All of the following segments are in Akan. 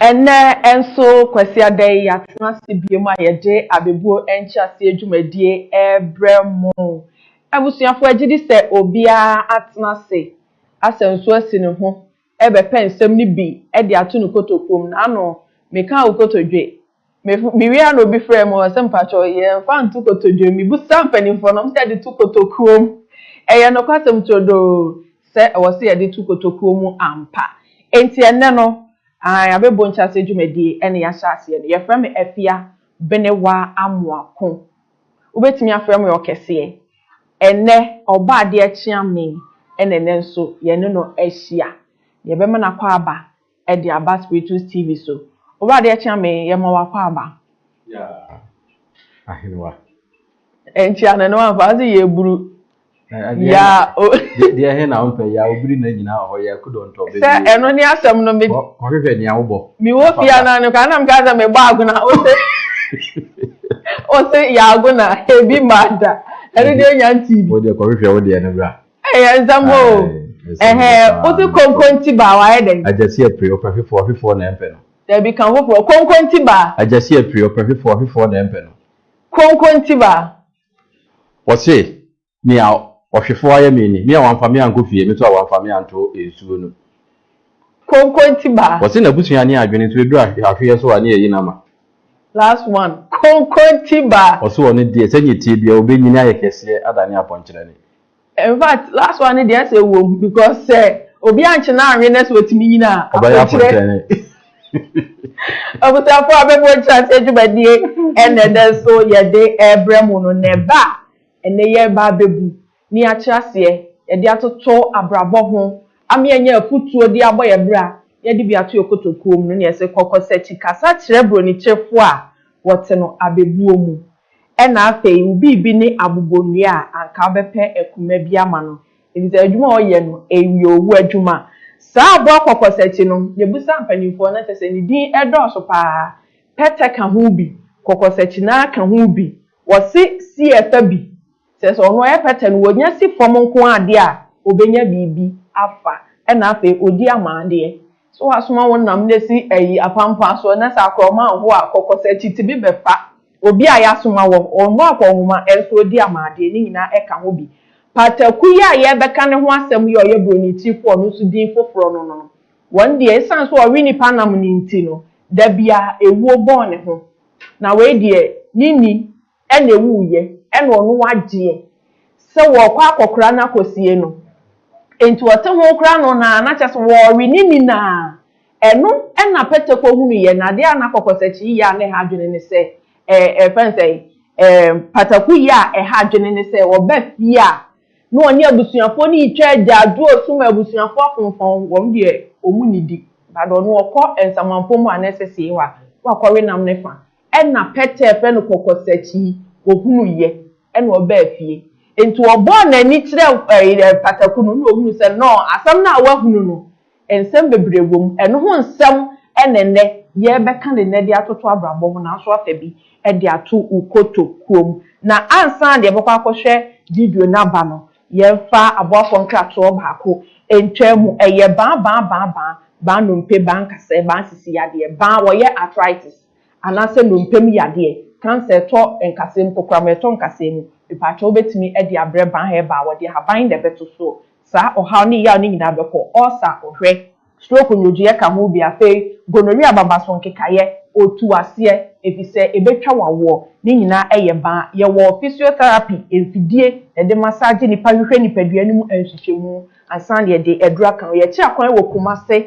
Ɛnnɛ nso, Kwasiada yi, yɛatena ase biom a yɛde abɛbuo nkyerɛaseɛ dwumadie rebrɛ mo. Abusuafoɔ, gyedi sɛ obiara atena ase asɛ nso asi ne ho rebɛpɛ nsɛm no bi de ato ne kotokuo mu, n'ano, mekaa wo kotodwe. Me, mewie ara na obi frɛɛ me hɔ sɛ, Mpakyɛ, yɛmfa nto kotodwe mu. Mebisaa mpanimfoɔ no, wɔse yɛde to kotokuo mu. Ɛyɛ nokwasɛm turodoo sɛ ɛwɔ sɛ yɛde to kotokuo mu ampa. Enti ɛnnɛ no, aane, abɛbɔ nkyeaseɛ dwumadie na yɛahyɛ aseɛ no. Yɛfrɛ me Afia Benewa Amoako. Wobɛtumi afrɛ me ɔkɛseɛ. Ɛnnɛ, ɔba adeɛ kyea me na ɛnnɛ nso yɛne no ahyia. Yɛbɛma no akwaaba de aba Spiritus TV so. Ɔba adeɛ kyea me, yɛma wo akwaaba. Yaa, Ahenewa. Ɛnkyea no, ne wamfa, ɔse yɛburu. Ya o. Deɛ he na wompɛ ya obiri na nyinaa wɔ hɔ ya kudɔ ntɔ bɛ. Sɛ ɛno ne asɛm no me. Kɔhwehwɛ nea wobɔ. Me wɔ fia na no ka na meka sɛ me bɔ agona o se o se ya agona ebi ma da ɛno deɛ nya ntii bi. O deɛ kɔhwehwɛ wo deɛ no bra. Ɛyɛ nsɛm o. Ɛhɛ o se konkonti ba wayɛ dɛn. Agyasi apire ɔpɛ hwefoɔ hwefoɔ na ɛmpɛ no. Dabi ka foforɔ konkonti ba. Agyasi apire ɔpɛ hwefoɔ hwefoɔ na ɛmpɛ no. Konkonti ba. Ɔse, Nea ɔhwefo ayɛ me ni, me a wamfa me ankɔ fie, me nso a wamfa me anto nsuo no. Konkonti ba. Ɔse n'abusua ne adwene nso ɛduru ahweɛ so a ne yɛyi no ama. Last one, Konkonti ba. Ɔse ɔno deɛ, sɛnea ɛteɛ biara ɔbɛnyini ayɛ kɛseɛ adane apɔnkyerɛne. Infact last one no deɛ ɛsɛ ewom because sɛ obi ankye no anwe na sɛ otumi nyini a Ɔbɛyɛ aponkyerɛ apontɛne. Abusuafoɔ abɛbɔ nkyerɛaseɛ dwumadie ɛna ɛnɛ nso yɛde ɛrebrɛ mo no na ɛba a ɛnɛ yɛreba abɛbu ne akyerɛ aseɛ yɛde atoto abrabɔ ho ama yɛanya afutuo de abɔ yɛn bra na yɛde bi ato yɛn kotokuo mu no na yɛse kɔkɔ sɛ kyi kasa kyerɛ bronikyerefo a wɔte no abɛbuo mu. Ɛna afei wo biribi ne abobonnua a anka wobɛpɛ akuma bi ama no efisɛ adwuma a ɔyɛ no ɛyɛ owu adwuma. Saa aboa kɔkɔsakyi no yɛbisa mpanyimfoɔ no kyɛ sɛ ne din ɛdɔɔso paa, pɛtɛ ka ho bi, kɔkɔsakyi no ara ka ho bi, wɔse si ɛfa bi. Sɛ sɛ ɔno ɔyɛ pɛtɛ no wɔnya si fam nko ara deɛ a, ɔbɛnya biribi afa, ɛna afei ɔdi ama adeɛ. Sɛ wɔasoma wo nam na ɛsi ayi apampaa soɔ na sɛ akorɔma anho a, kɔkɔ sɛ kyitibi bɛfa obi a yɛasoma wɔ hɔ, ɔnho akɔnhoma nso ɔdi ama adeɛ, ne nyinaa ɛka ho bi. Pataku yi a yɛrebɛka ne ho asɛm yi a ɔyɛ Buronitirifoɔ no nso din foforɔ no no, wɔn deɛ ɛsiane sɛ ɔwe nnipa nam no nti no, da biara ɛwuo bɔn ne ho. Na wei deɛ ne nni Ɛna ewuiɛ, ɛna ɔno wagyeɛ sɛ wɔɔkɔ akɔkora no akɔsie no, enti ɔte ho kora no naa na kyerɛ sɛ wɔɔwe ne ni naa. Ɛno na Pɛtɛ kɔhunuiɛ, na adeɛ a na kɔkɔsɛkye yi yɛ a na ɛha adwene ne sɛ, ɛɛ, yɛfrɛ no sɛn, ɛɛ, pataku yɛ a ɛha adwene ne sɛ ɔba fie a na ɔne abusuafoɔ no retwa agyaadwoɔ su ma abusuafoɔ afomfɔn wɔn deɛ wɔn nnidi, but ɔno ɔkɔ nsamanfoɔ mu a na ɛsɛ sɛ wakɔwe nam no fa. Nna Peter frɛ no kɔkɔsakyi, ohunuu yɛ na ɔbaa fie. Ntsi ɔbɔɔ n'enyi kyerɛɛ pataku no na ohunuu sɛ no asɛm no a ɔahunu no nsɛm beberee wɔ mu. Eno ho nsɛm na ndɛ yɛrebɛka no ndɛ de atoto abrabɔ ho naaso afa bi de ato wo kotokuo mu. Na ansaana yɛbɛkɔ akɔhwɛ video no aba no, yɛmfa aboafoɔ nkratoɔ baako ntwaa mu. Ɛyɛ baa, baa, baa, baa, baa nnompe, baa nkasɛɛ, baa sisi yadeɛ, baa wɔyɛ arthritis. anaasɛ nnompe mu yadeɛ, cancer a ɛtɔ nkasɛɛ mu, kokoram a ɛtɔ nkasɛɛ mu, mepaakyɛw wobɛtumi de abrɛ Ban Herbal, wɔde ahaban na ɛbɛto so, saa ɔhaw ne yaw no nyinaa bɛkɔ, ulcer, ɔhwɛ, stroke nnwogyeɛ ka ho bi, afei gonorrhea ababaso nkekaeɛ, ɔtu aseɛ, efisɛ ɛbɛtwa wo awoɔ, ne nyinaa yɛ ban, yɛwɔ physiotherapy, mfidie na yɛde massage nnipa hwehwɛ nnipadua no mu nhwehwɛmu ansa na yɛde aduro aka ho, yɛkyerɛ akwan wɔ Kumase,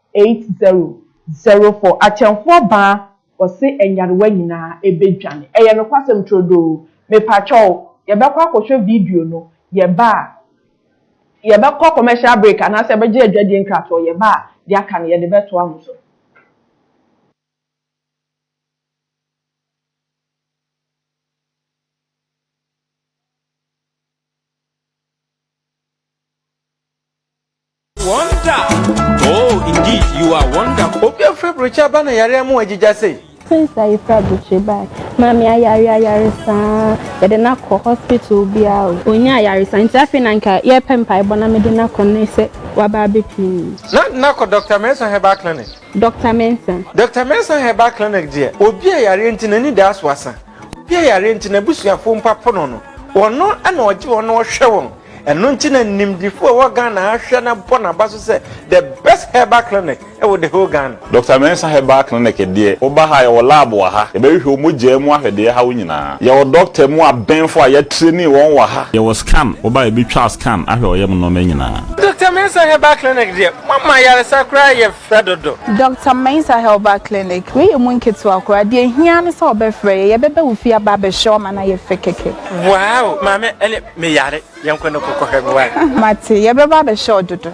Eight zero zero four Akyɛmfoɔ baa ɔse nyarewa nyinaa ɛbɛdwane. Ɛyɛ nokwasɛm turodoo. Mepakyɛw, yɛbɛkɔ akɔhwɛ video no. Yɛba a, yɛbɛkɔ commercial break anaasɛ yɛbɛgye adwadie nkratoɔ. Yɛba a, deɛ aka no yɛde bɛtoa mo so. Wonder! Oh, indeed, you are wonderful. Obi a fura brochure aba na yare ama wagyigya sei. Since a yefura brochure bae, maame ayare ayare saa, yɛde no akɔ hospital biara o. Onyaa ayaresa nti afei na nka yɛpɛ mpaebɔ na mede no akɔ nnɛ sɛ waba abɛpue mu. Na de no akɔ Doctor Mensah Herbal Clinic. Doctor Mensah. Doctor Mensah Herbal Clinic deɛ, obi a yareɛ nti n'ani da so asa. Obi a yare nti n'abusuafo mpo apo no no, ɔno na ɔgye wɔn na ɔhwɛ wɔn. Ɛno nti na nimdefo a ɛwɔ Ghana ha hwɛ na bɔ n'aba so sɛ the best herbal clinic wɔ the whole Ghana. Doctor Mensah Herbal Clinic deɛ, woba ha a yɛwɔ lab wɔ ha, yɛbɛhwehwɛ wo mogyaa mu ahwɛ deɛ ɛha wo nyinaa. Yɛwɔ doctor mu abɛnfo a yɛatreni wɔn wɔ ha. Yɛwɔ scan, woba a yɛbɛtwa wo scan ahwɛ wo yam nnoɔma nyinaa. Doctor Mensah Herbal Clinic deɛ, moama ayaresa koraa yɛ Frɛ dodo. Doctor Mensah Herbal Clinic, wei yɛ mu nketewa koraa, deɛ ɛhia ne sɛ ɔbɛfrɛ yɛ, yɛbɛba wo fie aba abɛhwɛ wo ama no ayɛ fɛ kɛkɛ. Wow! Maame ɛne me yare, yɛnkɔ na kɔkɔ hwɛ me wai. Mate, yɛbɛba abɛhwɛ wo dodo.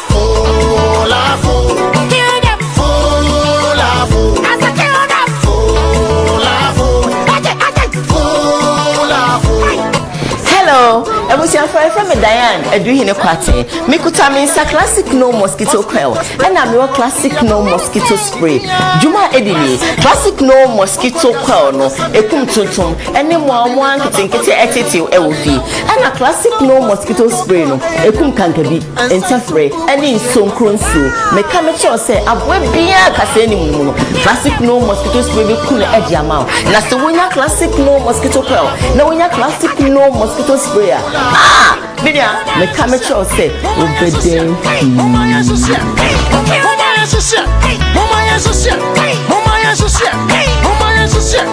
abusuafo ɛfɛ mi diane aduhene kwate mikuta mi nsa classic no mosquito coil ɛna mi wɔ classic no mosquito spray juma edi ni classic no mosquito coil no ekum tuntum ɛne mua mua nketenkete ɛtete ɛwɔ fi ɛna classic no mosquito spray no ekum kankabi. Ntafere ne nsonkuro nsuo. Meka mekyerɛ wo sɛ aboa biara kaseɛ ne mu no classic no mosquito spray bɛku no ɛde ama wo. Na sɛ wonya classic no mosquito coil na wonya classic no mosquito spray a ah menua meka mekyerɛ wo sɛ wobɛdɛn pii. Mama yɛ so hyɛ, mama yɛ so hyɛ, mama yɛ so hyɛ, mama yɛ so hyɛ.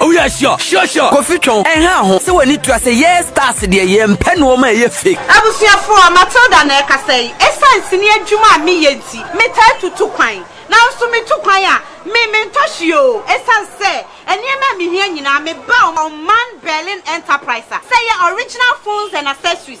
Oh yeah, sure, sure, sure. Kofi twɛn ɛnha ho sɛ w'ani tua sɛ yɛɛ stars deɛ yɛmpɛ nnoɔma a ɛyɛ fake. Abusuafoɔ, Matilda na ɛrekasa yi. Ɛsiane sini adwuma a meyɛ nti, metaa tu tu kwan. Nanso metu kwan a, me mentɔ hwee oo. Ɛsiane sɛ nneɛma a mehia nyinaa, meba ɔman Berlin Enterprise a, sɛ ɛyɛ original phones and accessories,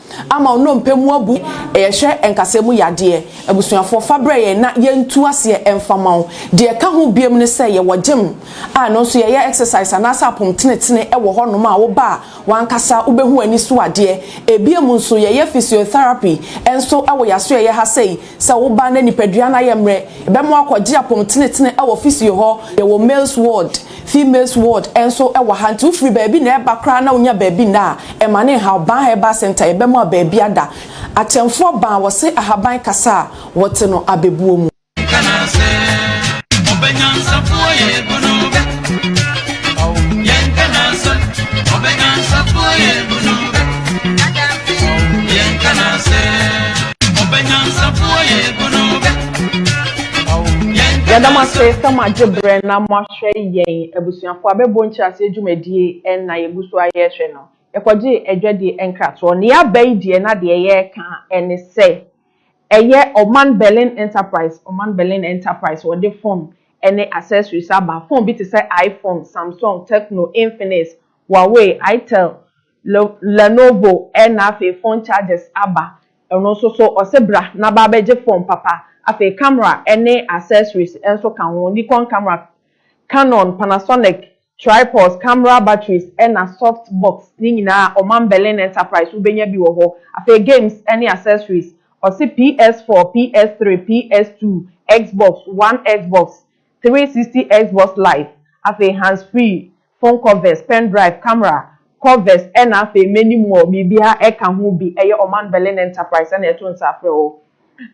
Ama wo nnompe mu abu. Yɛhwɛ nkasɛɛ mu yadeɛ. Abusuafoɔ fa brɛ yɛn na yɛntu aseɛ mfa mma wo. Deɛ ɛka ho biom ne sɛ yɛwɔ gym a ɛno nso yɛyɛ exercise anaasɛ apom tenetene wɔ hɔ nom a woba a w'ankasa wobɛhu w'ani so adeɛ. Ebiom nso yɛyɛ physiotherapy nso wɔ y'asoɛeɛ ha sei. Sɛ woba na nipadua no ayɛ mmerɛ yɛbɛma wo akɔgye apom tenetene wɔ physio hɔ. Yɛwɔ males ward. Females ward nso wɔ ha nti wofiri baabi na ɛreba koraa na wonya baabi nna a, ɛma no nhaw. Ban Herbal Centre yɛ bɛ mu a baabi ada. Akyɛmfoɔ ban wɔse ahaban kasa a wɔte no abɛbuo mu. Meka no sɛ ɔbɛ nyansafoɔ yɛ bunu bɛ oh Yɛnka no sɛ ɔbɛ nyansafoɔ yɛ bunu bɛ Yɛnka no sɛ ɔbɛ nyansafoɔ yɛ bunu bɛ Yɛda mo ase sɛ mo agye berɛ na mo ahwɛ yɛn abusuafoɔ a bɛbɔ nkyerɛaseɛ dwumadie ɛna yɛgu so ara yɛrehwɛ no. Yɛkɔgyee adwadie nkratoɔ na yɛaba yi deɛ na deɛ yɛreka ɛne sɛ ɛyɛ Ɔman Berlin Enterprise, Ɔman Berlin Enterprise wɔde phone ɛne accessories aba. Phone bi te sɛ iPhone, Samsung, Tecno, Infinix, Huawei, Itel, Lenovo na afei phone chargers aba ɛno nso so ɔse bra na ba bɛgye phone papa afei camera ne accessories nso ka ho Nikon camera, Canon, Panasonic, tripods, camera batteries na soft box ne nyinaa ɔmam Berlin Enterprise wobɛnya bi wɔ hɔ afei games ne accessories ɔse PS4, PS3, PS2, Xbox One, Xbox three sixty, Xbox Live afei hands free phone covers, pen drive, camera, covers ɛna afei many more biribiara ɛka ho bi ɛyɛ Ɔman Berlin Enterprise ɛna ɛto nsa frɛ wo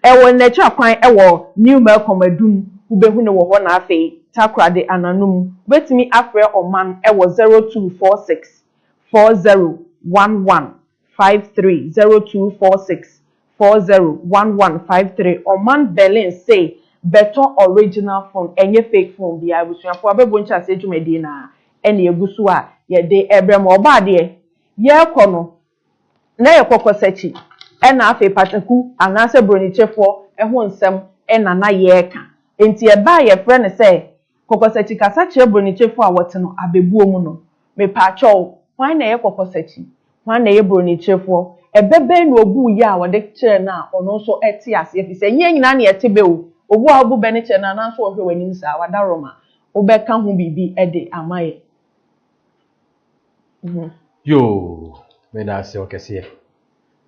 ɛwɔ nnɛkyerɛ kwan ɛwɔ New Melcom Adum wobɛhu no wɔ hɔ na afei Takoradi Ananum wobɛtumi afrɛ Ɔman ɛwɔ zero two four six four zero one one five three zero two four six four zero one one five three Ɔman Berlin se bɛtɔ original phone ɛnyɛ fake phone biara Abusuafoɔ abɛbɔ nkyerɛaseɛ dwumadie no ara ɛna ɛgu so a yɛde rebrɛ mo Ɔbaa deɛ yɛrekɔ no na yɛ kɔkɔsakyi ɛna afei pataku anaasɛ bronikyɛfoɔ ho nsɛm ɛna na yɛreka Enti ɛbɛ a yɛfrɛ no sɛ Kɔkɔsakyi kasa kyerɛ bronikyefo a wɔtse no abebuo mu no. Mepaakyɛw, hwan na ɛyɛ kɔkɔsakyi? Hwan na ɛyɛ bronikyefoɔ? Ɛbɛ bɛn na ɔbuu yɛ a wɔde kyerɛɛ no a ɔno nso te aseɛ? Ɛfiri sɛ, nyɛ nyinaa na yɛte bɛ o. Obu a wobu bɛ no kyerɛ no anaa nso ɔhwɛ w'anim saa a, wada Roma. Wobɛka ho biribi de ama yɛn? Yoo, meda ase ɔkɛseɛ.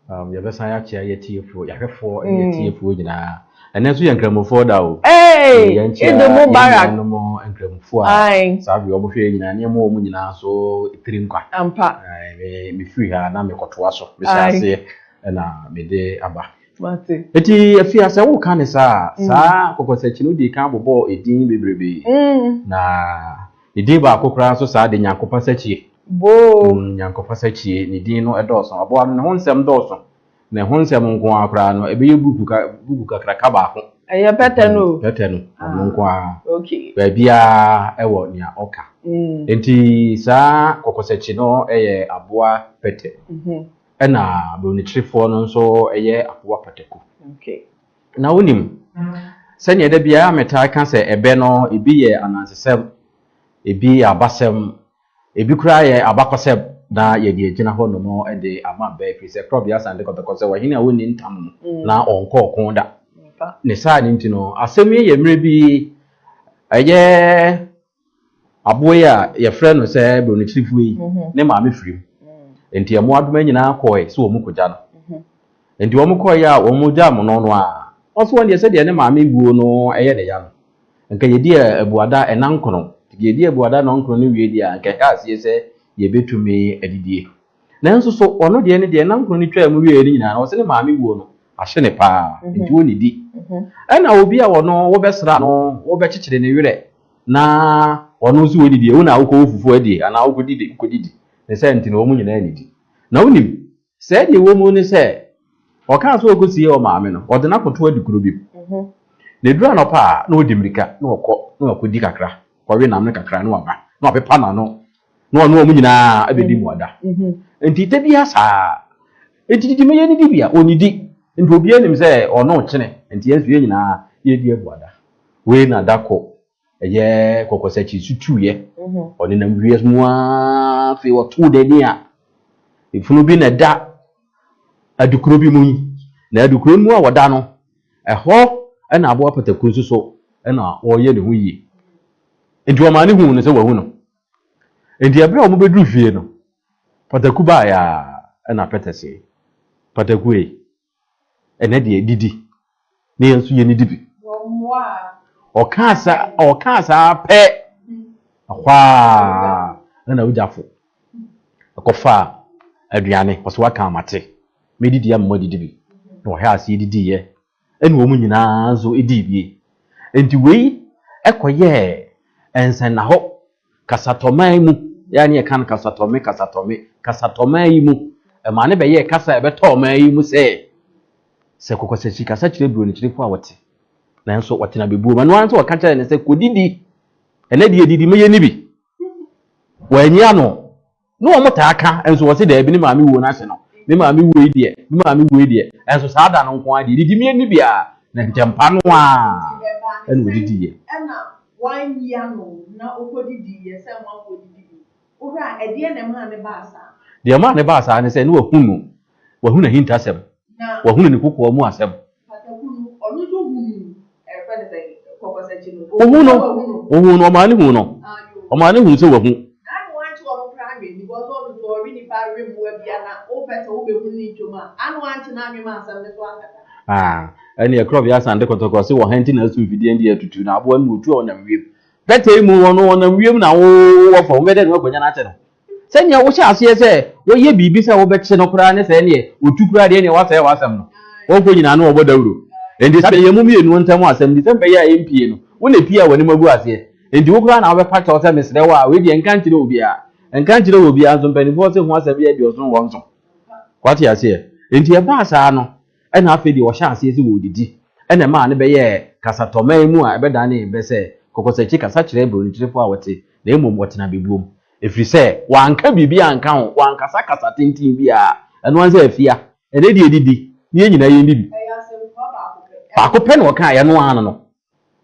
Um, yɛbɛsan akyea yɛ tiefoɔ, yɛahwɛfoɔ ne yɛ mm. tiefoɔ nyinaa. Ɛnɛ nso yɛ nkramofoɔ da o. Ee, edo mu bara. Yɛn nuanom nkramofoɔ a saa bi wɔn hwɛ yɛ nyinaa nneɛma wɔn nyinaa so tiri nkwa. Ampa. Ɛɛ, me firi ha na mekɔtoa so. Mehyɛ aseɛ ɛna mede aba. Mate. Eti efi ase wo ka ne saa, mm. saa kɔkɔsɛkyi no di kan bobɔ edin bebrebe. Mm. Na Ne din baako koraa nso saa de, Nyankopɔn-sakyie. Boo! Nyankopɔn-sakyie, Ne din no dɔɔso. Aboa no, ne ho nsɛm dɔɔso. Na ɛho nsɛm nko ara koraa no, ɛbɛyɛ buku ka, buku kakraka baako. Ɛyɛ pɛtɛ no o. Pɛtɛ no, ɔno nko ara. Ok. Baabiara ɛwɔ nea ɔka. Enti saa kɔkɔsakyi no yɛ aboa pɛtɛ. Ɛna Bronikyirifoɔ no nso yɛ aboa pataku. Ok. Na wunim, sɛnea da biara metaa ka sɛ ɛbɛ no, ebi yɛ anansesɛm, ebi yɛ abasɛm, ebi koraa yɛ abakɔsɛm, na yɛde agyina hɔ nom de ama bɛ, ɛfiri sɛ Korɔbea Asan de kɔtɔkɔ sɛ, Ɔhene a wonni ntam no na ɔnkɔ ɔko da. Ne saa no nti no, asɛm yi yɛ mmerɛ bi ɛyɛ Aboa yi a yɛfrɛ no sɛ Buronokyirifoɔ yi, ne maame firim. Enti mmoadoma nyinaa kɔɔe sɛ wɔn kɔgya no. Enti wɔn kɔɔeɛ a wɔn gyaa mono no a, ɔse wɔn deɛ sɛdeɛ ne maame wuo no yɛ ne ya no, nka yɛdi abuada ɛna nkono. Nti deɛ yɛdi abuada ɛna nkono no wie deɛ a, nka yɛka aseɛ sɛ yɛbɛtumi adidie. Nanso so ɔno deɛ ne deɛ nna nkron no twaa mu wieɛ no nyinaa no ɔse ne maame wuo no ahye ne paa nti ɔnnidi. Ɛna obi a ɔno wo bɛsra no wo bɛkyekyere ne werɛ na ɔno nso ɔdidi ɛ wo na wokɔ wo fufuo adie anaa wokɔ didi wokɔ didi ne saa nti no wɔn nyinaa nnidi. Na wonim sɛɛ deɛ ɛwɔ mu ne sɛ ɔkaa sɛ ɔkɔ sie ɔmaame no ɔde no akɔto adi kuro bi mu na ɛduru anɔpa a na ɔde mmirika na ɔkɔ na wakɔdi kakra kɔwe nam no kakra na waba na wapepa n'ano Na ɔne wɔn nyinaa abɛdi mmuada. Enti da biara saa ara. Enti didi ma yɛnnidi bi a, ɔnnidi. Enti obiara nim sɛ ɔno rekyene, enti yɛn nso yɛn nyinaa yɛredi abuada. Wei na da koro ɛyɛ kɔkɔsakyi nso tuiɛ. Ɔnenam wiase mu ara, afei ɔtoo n'ani a efunu bi na ɛda adukuro bi mu yi. Na adukuro no mu a ɔda no, ɛhɔ na aboa pataku nso so na ɔreyɛ ne ho yie. Enti wɔmaa no huu no sɛ wɔahu no. Enti bere a wɔbɛduru fie no, pataku baeɛ ara ɛnna Peter see, Pataku ei, ɛnnɛ deɛ didi, na yɛn nso yɛnnidi bi. Ɔkaa saa, ɔkaa saa pɛ, ɛhɔ ara na n'awogyafo kɔfaa aduane, ɔsɛ waka amate, medidi ama moadidi bi, na wɔhwɛ ase didiiɛ na wɔn nyina ara nso dii bi. Enti wei kɔyɛɛ nsɛnnahɔ kasatɔman mu, yɛ a na yɛka no kasatɔme, kasatɔme, kasatɔman yi mu. Ɛmaa no bɛyɛɛ kasa a ɛbɛtɔ ɔman yi mu sɛ, sɛ Kɔkɔsakyi kasa kyerɛ Buronikyerefo a wɔte, nanso wɔte na bebuom. Ɛno ara nti wɔka kyerɛɛ no sɛ, Kɔdidi, ɛnnɛ deɛ didi, mɛyɛ nni bi. Wannye ano. na wɔn taa ka nso wɔsi dɛbi ne maame wuo n'ase no me maame wuo yi deɛ me maame wuo yi deɛ ɛnso saa da no nko ara deɛ didi mi ani bia na ntɛmpa no a ɛna odidi yɛ. Ɛna wanyi ano na ɔkɔ didi yɛ sɛ amanfoɔ didi bi. Owura ɛdeɛ na ɛmaa ne baa saa. Deɛ ɛmaa ne baa saa ne sɛ na wahunu Wahunu n'ahintasɛm, wahunu ne kokoa mu asɛm. Wohuu no, wohuu no, ɔmaa no huu no, ɔmaa no huu sɛ wahu. Ah, ɛne ɛkorɔ bi asan de kɔtɔkɔ se wɔhan ti na asu mfidie ndi atutu na aboa no na otu a ɔnam wiem. Bɛtɛe mu wɔn no wɔnam wiem na wɔwɔ fam, wobɛdɛ ne wakwanya no akyɛ no. Sɛ nea wohyɛ aseɛ sɛ woyɛ biribi sɛ wobɛkye no koraa ne sɛ neɛ ɔtu koraa deɛ neɛ wasɛe w'asɛm no. Wɔn kɔ nyinaa no wɔbɔ dawuro. Enti sɛ yɛn mu mmienu ntam asɛm nti sɛ me bɛyɛ a ɛmpie no, wo na ɛpie a w'anim agu aseɛ. Enti wo koraa na wobɛpa kyɛw sɛ mesrɛ wo a wei deɛ nka nkyerɛ obiara. Nka nkyerɛ obiara nso, mpaninfoɔ se ho asɛm yɛ deɛ ɔsono wɔn so. Wate aseɛ? Enti ɛbaa saa no. Ɛnna afei deɛ wɔhyɛɛ aseɛ sɛ wɔredidi. Ɛnna ɛmaa no bɛyɛɛ kasatɔman mu a ɛbɛdanee bɛ sɛ kɔkɔsakyi kasa kyerɛ buronikyerɛfoɔ a wɔte, na mmom wɔtena bɛbuom. Ɛfiri sɛ wɔanka biribiara anka ho, wɔankasa kasa tenten biara. Ɛno ara ne sɛ, Afia, ɛnnɛ deɛ didi, na yɛn nyinaa yɛndidi. Ɛyɛ asɛmfua baako pɛ. Baako pɛ na ɔkaeɛ, ɛno ara ne no.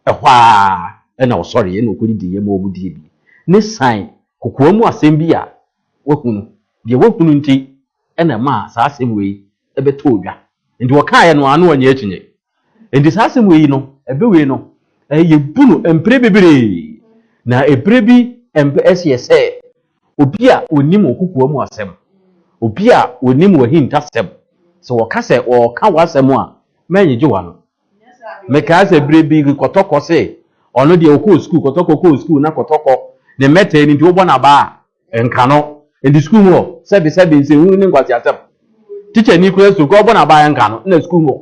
Ɛhɔ ara na wɔsɔreeɛ na wɔkɔdidiiɛ ma wɔdie bi. Ne san kokoa mu asɛm bi a wɔahu no, deɛ wɔahu no nti, na ɛmaa saa asɛm wei bɛtɔɔ dwa. Enti wɔkaeɛ no ara na wɔannye akyinnye. Enti saa asɛm wei no, ɛbɛ wei no, yɛbu no mprɛ bebree. Na berɛ bi ɛmpɛ ɛseɛ sɛ obi a ɔnim wo kokoa mu asɛm, obi a ɔnim w'ahintasɛm, sɛ wɔka sɛ wɔreka w'asɛm a, mɛnyegye w'ano. Mekae sɛ berɛ bi Kɔtɔkɔ se ɔno deɛ ɔkɔɔ sukuu, Kɔtɔkɔ kɔɔ sukuu na Kɔtɔkɔ ne mmɛtɛɛ no nti wobɔ no abaa a, nka no enti sukuu mu hɔ sɛbe sɛbe nsɛnhunu ne nkwaseasɛm tikyani kura sukuu kɔ ɔbɔ n'abaayɛ nka no na sukuu mu hɔ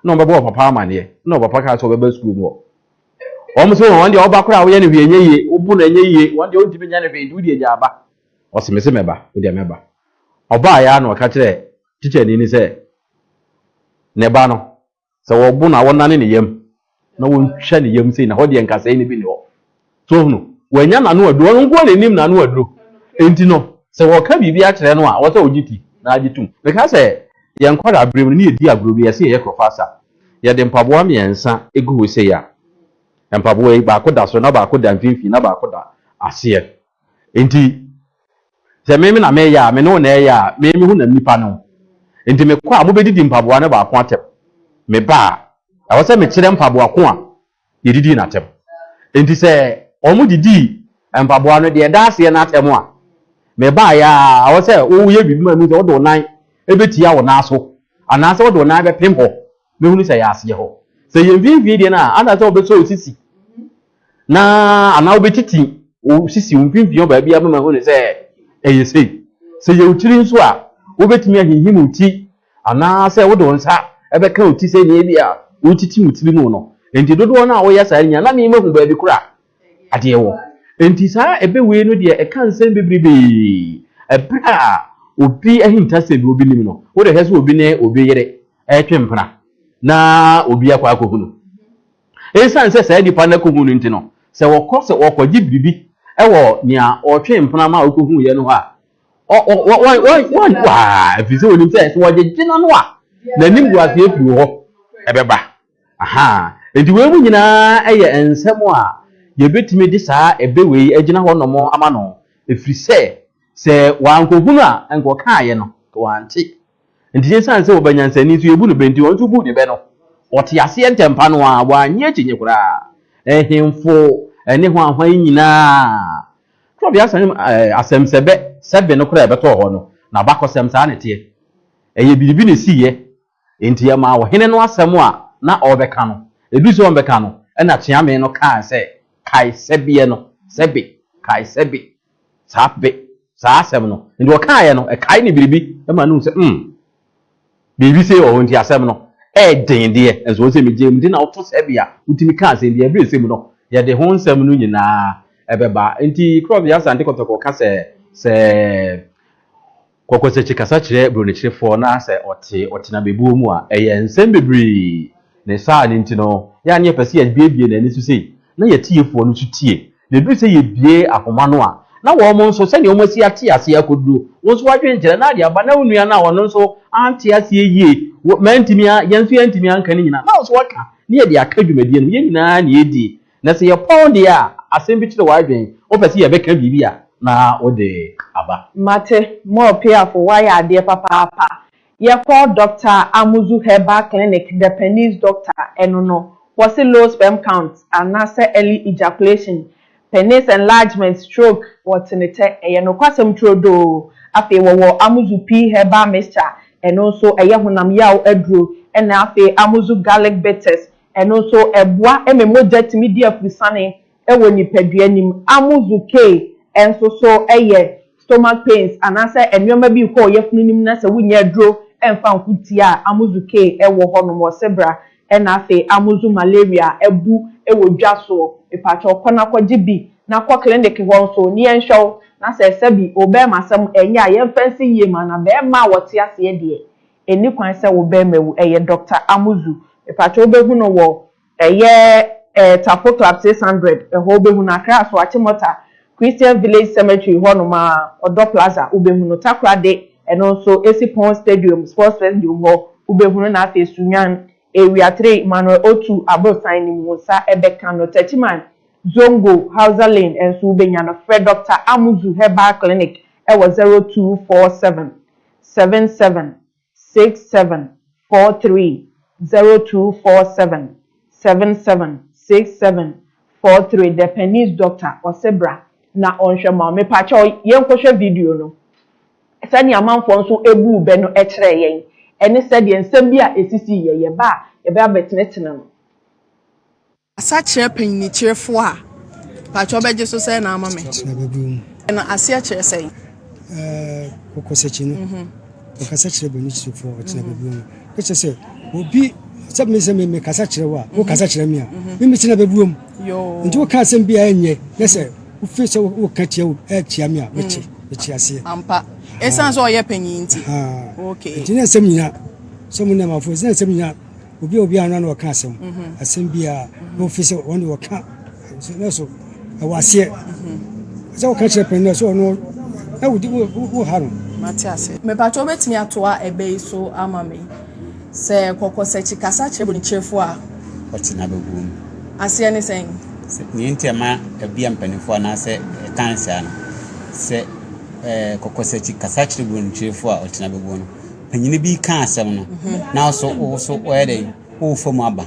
na ɔbɛbɔ ɔpapa amaneɛ na ɔpapa kaa sɛ ɔbɛba sukuu mu hɔ wɔn sɛ wɔn deɛ ɔba koraa woyɛ ne hwee ɛnyɛ yie wobu no ɛnyɛ yie wɔn deɛ wontumi nyɛ ne hwee nti wodi agya aba ɔse me se mɛba wodeɛ mɛba ɔbaa yɛ a na ɔka kyerɛ tikyani ne sɛ ne ba no Sɛ wɔbo no a, wɔnane ne yam na wɔtwa ne yam sei, na hɔ deɛ nkasɛe no bi nni hɔ. So wohunu? Wannya n'ano aduro. Ɔno nko na nim n'ano aduro. Enti no, sɛ wɔka biribi akyerɛ no a, ɛwɔ sɛ ɔgye ti na agye tom. Meka sɛ, yɛn nkwadaa-berem no, ne yɛdi agorɔ bi, yɛse yɛyɛ Krofasa. Yɛde mpaboa mmiɛnsa gu hɔ sei a, mpaboa yi, baako da soro, na baako da mfimfini, na baako da aseɛ. Enti sɛ me na meyɛ a, me ne wo na ɛreyɛ a, me me ho na nnipa ne wo. Enti mekɔ a, mobɛdidi mpaboa no baako atɛm. Meba a, ɛwɔ sɛ mekyerɛ mpaboa ko a yɛdidii no atɛm. Enti sɛ wɔdidii mpaboa no deɛ ɛda aseɛ no atɛm a, mebaeɛ a, ɛwɔ sɛ woyɛ biribi ma mehu sɛ wode wo nan bɛtia wo nan so anaasɛ wode wo nan bɛpem hɔ mɛhunu sɛ ɛyɛ aseɛ hɔ. Sɛ ɛyɛ mfimfini deɛ no a, ansa sɛ wobɛsɔ wo sisi na anaa wobɛtiti wo sisi wo mfimfini hɔ baabi ama mahu no sɛ ɛyɛ sei. Sɛ ɛyɛ wo tiri nso a, wobɛtumi ahinhim wo ti anaasɛ wode wo nsa bɛka wo ti sɛdeɛ ebia wotiti wo tiri mu no. Enti dodoɔ no a woyɛ saa no nyinaa, na memahu baabi korɔ a adeɛ wɔ. Enti saa ɛbɛ wei no deɛ ɛka nsɛm bebrebee. Ɛberɛ a obi ahintasɛm bi obi nim no, wode hwɛ sɛ obi ne obi yere retwe mpena na obi akɔ akɔhunu. Esiane sɛ saa nnipa no akohu no nti no, sɛ wɔkɔ sɛ wɔkɔgye biribi wɔ nea ɔtwee mpena ma okohuiɛ no hɔ a, wɔnni hɔ ara, ɛfiri sɛ wɔnim sɛ sɛ wɔgyegye no ano a, n'animguaseɛ firi hɔ bɛba. Ahaa. Enti wei mu nyinaa yɛ nsɛm a yɛbɛtumi de saa ɛbɛ wei agyina hɔ nom ama no, ɛfiri sɛ sɛ wankɔhunu a anka ɔkaaeɛ no, anka wante. Enti esiane sɛ wɔba nyansani so yebu no bɛ nti, wɔn nso buu ne bɛ no. Wɔtee aseɛ ntɛmpa no ara, wɔannye akyinnye koraa. Nhemfo ne hwan hwan yi nyinaa. Twerɛbeasɛm asɛm sɛ bɛ sɛ be no koraa bɛtɔɔ hɔ no, n'abakɔsɛm saa na ɛteɛ. Ɛyɛ biribi na esiiɛ. Enti ɛmaa ɔhene no asɛm a na ɔrebɛka no, ɛduu sɛ ɔrebɛka no, ɛnna Tweamee no kaa sɛ, Kae sɛ beɛ no, sɛ be, kae sɛ be, saa be, saa asɛm no, nti ɔkaeɛ no, ɛkae ne biribi ma no hu sɛ, mm, biribi sei wɔ hɔ, nti asɛm no ɛyɛ den deɛ, nso wɔn sɛ megye mu de na woto sɛ bi a wotumi ka asɛm bi, ɛberɛ sɛ mu no, yɛde ho nsɛm no nyinaa ɛbɛba. Nti Cross de Asante Kɔtɔkɔ ka sɛ, sɛ. Kɔkɔsakyi kasa kyerɛ Buronikyirefoɔ na sɛ ɔte ɔtenabebuo mu a, ɛyɛ nsɛm bebree. Ne saa no nti no, yɛ a na yɛpɛ sɛ yɛbuebue n'ani so sei na y'atiefoɔ no nso tie. Na ɛduru sɛ yɛbue ahoma no a, na wɔn nso, sɛdeɛ wɔn asi ate aseɛ akɔduro, wo nso w'adwenkyerɛ na ade aba na wo nua no a ɔno nso ante aseɛ yie, wo, mantumi a, yɛn nso yɛantumi anka ne nyinaa, na wo nso woaka, na yɛde aka dwumadie no, yɛn nyinaa na yɛdie. Na sɛ yɛpɔn deɛ a asɛm bi kyere w'adwen, wopɛ sɛ yɛbɛka biribi a, na wode aba. Mate, Mor Piafo, woayɛ adeɛ papaapa. Yɛkɔ Dɔkta Amuzu Herbal Clinic, Depannese Doctor, ɛno no, wɔse low sperm count anaasɛ early ejaculation, penis enlargement, stroke, wɔte ne tɛ. Ɛyɛ nokwasɛm turodoo. Afei wɔwɔ Amuzu Pea Herbal Mixture, ɛno nso ɛyɛ honam yaw aduro, ɛna afei Amuzu Garlic Bitters, Ɛno nso boa ma mogya tumi di afurusane wɔ nipadua no mu. Amuzu kei nso so yɛ stomach pains anaasɛ nnoɔma bi rekɔ wo yafunu no mu na sɛ wonnya aduro mfa nko tie a, amuzu kei wɔ hɔ nom. Ɔse bra na afei amuzu malaria abu wɔ dwa soɔ. Mepakyɛw kɔ na kɔgye bi na kɔ clinic hɔ nso na yɛnhwɛ wo na sɛ ɛsɛ bi. Wo bɛɛma asɛm ɛnyɛ a yɛmfa nsi yie ma no. Bɛɛma a wɔte aseɛ deɛ Ɛnni kwan sɛ wo bɛɛma wu. Ɛyɛ Doctor Amuzu. Mepakyɛ wo bɛhu no wɔ ɛyɛ ɛɛ Tafoto ab six hundred ɛhɔ wo bɛhu no. Accra so Achimota Christian Village Cemetery hɔ nom aa Ɔdɔ Plaza wo bɛhu no. Takoradi ɛno nso ɛsi Pon Stadium Sports Festium hɔ wo bɛhu no na afei Sunyani Area three Emmanuel Otu Aborosan no mu wo nsa ɛbɛka no. Techiman Zongo Hausa Lane ɛnso wo bɛnya no. Frɛ Doctor Amuzu Herbal Clinic ɛwɔ zero two four seven seven seven six seven four three zero two four seven seven seven six seven four three Dependence doctor ɔse bra na ɔnhwɛ ma wo mepakyɛw yɛnkɔhwɛ video no sɛdeɛ amanfoɔ nso buu bɛ no kyerɛɛ yɛn ɛne sɛdeɛ nsɛm bi a ɛsisii yɛ yɛba a yɛbɛ abɛtenetene no. Kasa kyerɛ panyinikyerefo a mpakyɛ ɔbɛgye so sɛɛ na ama me. Kasa na bɛbrɛ mu. Ɛno aseɛ kyerɛ sɛn? Ɛɛ kɔkɔsakyi no. Mm -hmm. Ɔkasa kyerɛ panyinikyerefo a ɔtena bɛbrɛ mu. Ɛkyɛ sɛ obi sɛ me sɛ me kasa kyerɛ wo a wo kasa kyerɛ me a me me tena bɛbrɛ mu. Nti wo ka asɛm bi a ɛnyɛ na sɛ wo fi sɛ wo ka tia wo ɛtia me a me kye me kye aseɛ. Ampa. Ɛsan sɛ ɔyɛ panyin nti. Okay. Nti na nsɛm nyina sɛ mo na ma fo sɛ nsɛm nyina Obi a obi ano na ɔka asɛm. Mhm. Asɛm biara na ofi sɛ wɔn de wɔka na so ɛwɔ aseɛ. Mhm. Sɛ wɔka kyerɛ pɛn na so ɔno na wodi wo ha no. Mate ase. Mepatwa obetumi atoa ɛbɛ yi so ama me. Sɛ kɔkɔsɛkyi kasa kyerɛ bonikyerefo a. Ɔte na bɛgu mu. Aseɛ ne sɛn? Nea nti ɛma ɛbia mpanimfoɔ anaasɛ ɛtan saa no sɛ kɔkɔsɛkyi kasa kyerɛ bonikyerefo a ɔte na bɛgu no. Panyin bi ka asɛm no na so wo so wɔyɛ dɛ wofa mu aba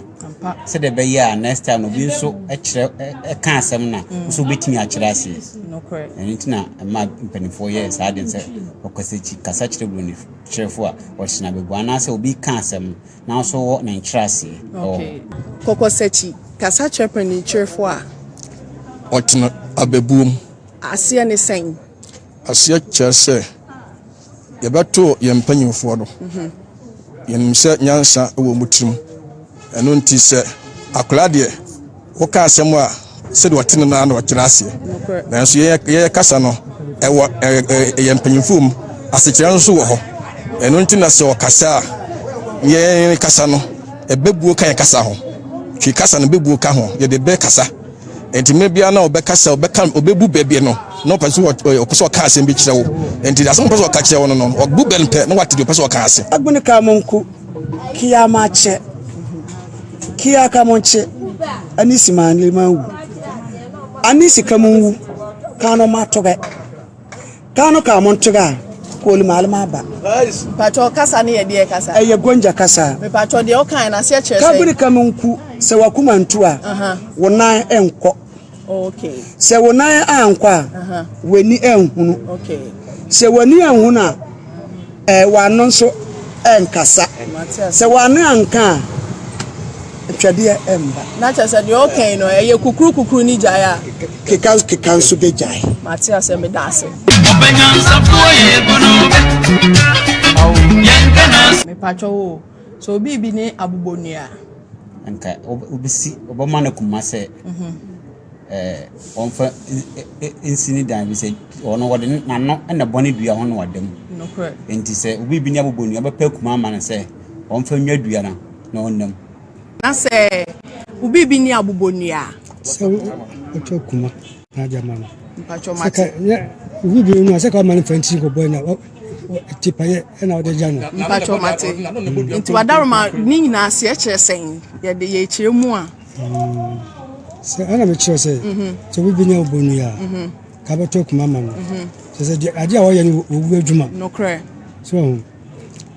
sɛdeɛ ɛbɛyɛ a next time no obi nso kyerɛ ɛka asɛm no a mm. nso wobɛtumi akyerɛ ase ɛno nti na ɛma mpanimfoɔ yɛ saa den sɛ ɔkasakyi kasa kyerɛ buroni kyerɛfo a ɔhyena bɛgu anaasɛ obi ka asɛm no na nso wɔ ne nkyerɛ ase ɛwɔ kɔkɔsakyi kasa kyerɛ panyin kyerɛfo a ɔtena abɛbuom aseɛ ne sɛn aseɛ kyerɛ sɛ Yɛbɛto yɛn mpanyimfoɔ no. Yɛnim sɛ nyansa wɔ wɔn tirim. Ɛno nti sɛ akwadaa deɛ, woka asɛm a sɛdeɛ ɔte no na ɔkyerɛ aseɛ. Nanso yɛyɛ kasa no, ɛwɔ yɛn mpanyimfoɔ mu. Asekyerɛ nso wɔ hɔ. Ɛno nti na sɛ ɔkasa a, yɛn kasa no, ɛbɛbuo ka yɛn kasa ho. Twi kasa no bɛbuo ka ho. Yɛde bɛkasa. nti mmerɛ biara na ɔbɛka sɛ ɔbɛka ɔbɛbu bɛ bi no na ɔpɛ sɛ ɔpɛ sɛ ɔka asɛm bi kyerɛ wo nti asɛm ɔpɛ sɛ ɔka kyerɛ wo no no ɔbu bɛ no pɛ na wate deɛ ɔpɛ sɛ ɔka ase agbene ka mo nko kia ma kyɛ kia ka mo nkye anisi ma anlema wu anisi ka mo nwu ka no ma to bɛ Kaa no kaa mo ntoga a kooli maale ma aba. Mpakyɛw kasa no yɛ deɛ kasa? Ɛyɛ Gonja kasa. Mepakyɛw deɛ wokae no aseɛ kyerɛ sɛn? Kabiri ka me nku sɛ w'akoma ntu a wo nan nkɔ. Sɛ wo nan ankɔ a w'ani anhunu. Sɛ w'ani anhunu a. W'ano nso renkasa. Sɛ w'ano anka a, twɛdeɛ remma. Na kyerɛ sɛ deɛ ɔka yi no, ɛyɛ kukurukukuru ne gyae a. Kekankeka nso bɛgyae. Mate aseɛ, meda ase. Ɔbɛnyansafoɔ yɛ bunu bɛ. Yɛnka n'as. Mepakyɛ wo, sɛ obi bi ne abobonua. Anka wobɛsi, wobɛma no koma sɛ. wɔmfa nsi ne dan bi sɛ ɔno wɔde n'ano na bɔne dua ho na wada mu nti sɛ obi bi ne abobɔ nua bɛpɛ kuma ama no sɛ wɔmfa nwa dua no na ɔnam na sɛ obi bi ne abobɔ nua sɛ wotwa kuma na agya ma no obi bi no sɛ ka ɔma no fa ntiri kɔbɔ na tipayɛ ɛna ɔde gya no mpatwɔ mate nti wadaroma ne nyinaa seɛ kyerɛ sɛn yɛde yɛkyerɛ mu a Sɛ ɛna mekyerɛ sɛ sɛ obi bɛnya wobɔ no a ka bɛtɔ akuma ma no sɛ sɛ deɛ adeɛ a wɔyɛ no wɔwu adwuma nokorɛ so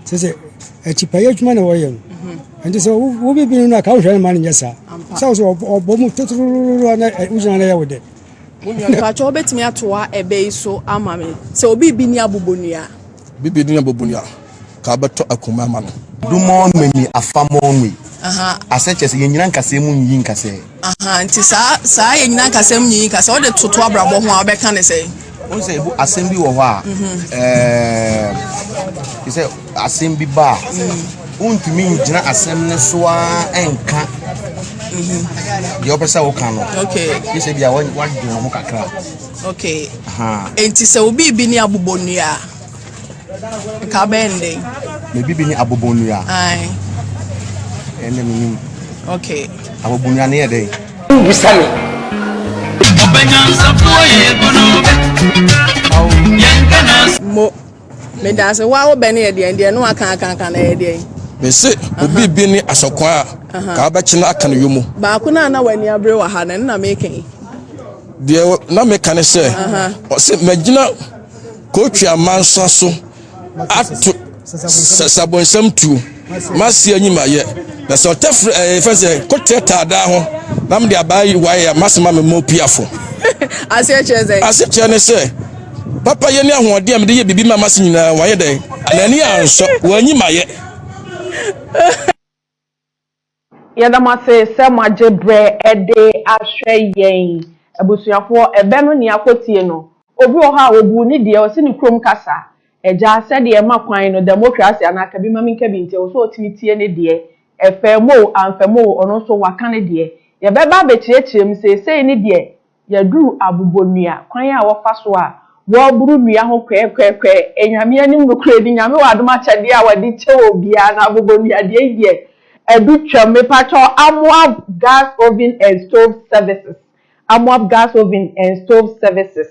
sɛ sɛ akyipayɛ adwuma na wɔyɛ no ɛnti sɛ wobɛbi no no a ka wohwɛ no ma no nyɛ saa sɛ wo sɛ ɔbɔ mu totorororo na wogyina no yɛ wo dɛ mpakyɛ wobɛtumi atoa ɛbɛ yi so ama me sɛ obi bi ni abobonua bibi ni abobonua ka wobɛtɔ akuma ama no. Do mɔ me mi afa mɔ nwi. Asɛ kyerɛ sɛ yɛn nyina nkasɛɛ mu nyiyi nkasɛɛ. Ahaa nti saa saa yɛn nyina nkasɛɛ mu nyiyi nkasɛɛ wode toto abrabɔ ho a wobɛka ne sɛn? Wohu sɛ ebu asɛm bi wɔ hɔ a ɛɛm te sɛ asɛm bi ba a wontumi ngyina asɛm no so ara ɛnka deɛ wopɛ sɛ woka no. Okay. Gye sɛ bi a wadwene ho kakra. Okay. Ahaa. Nti sɛ obi bi ne abobɔ nnua a. Nka abɛyɛ no dɛn? Me bibi ne abobonnua. Ae. Ɛnna me nim. Okay. Abobonnua no yɛ dɛn? Wubisa me. Ɔbɛnyansafoɔ yɛ ebunu bɛ. Yɛn kana. Mo. Me da ase. Wa wo bɛ ne yɛ deɛ deɛ no aka aka aka na yɛ deɛ. Me se obi bi ne asɔkwan a. Ka abɛkye no aka no yomu. Baako na na wani abere wɔ ha na ɛno na meka yi. Deɛ na meka ne sɛ. Ɔse magyina. Kotwi amansa so ato sɛ sabonsɛm tuo maseɛ nyi mayɛ na sɛ ɔtɛ firi ɛɛ fɛn sɛ kotɛ taadaa ho na mede abaa yi wae a masoma me mɔ piafo. aseɛ kyerɛ sɛ aseɛ kyerɛ ne sɛ papa yɛ ne ahoɔden a mede yɛ biribi ma mase nyinaa wayɛ dɛn n'ani ansɔ wanyi mayɛ. Yɛda mo ase sɛ mo agye berɛ de ahwɛ yɛn abusuafoɔ. Ɛbɛ no nea kɔtie no. Obi wɔ hɔ a ɔbuu ne deɛ ɔse ne kurom kasa. Agya sɛdeɛ ɛma kwan no dɛmokrase anaa kabi ma menka bi nti ɛwɔ sɛ ɔtumi tie ne deɛ. Ɛfaa mu o amfaa mu o ɔno nso waka ne deɛ. Yɛbɛba abɛkyerɛkyerɛ mu seesei ne deɛ Yɛduru abobonnua, kwan a wɔfa so a wɔboro nnua ho kwɛɛkwɛɛkwɛɛ, anyame anim nokorɛdi, Nyame wɔ adom akyɛdeɛ a wɔde kyɛ obiara no abobonnuadeɛ yi deɛ adu twam, mepakyɛ wo, Amoab Gas Oven and Stove Services, Amoab Gas Oven and Stove Services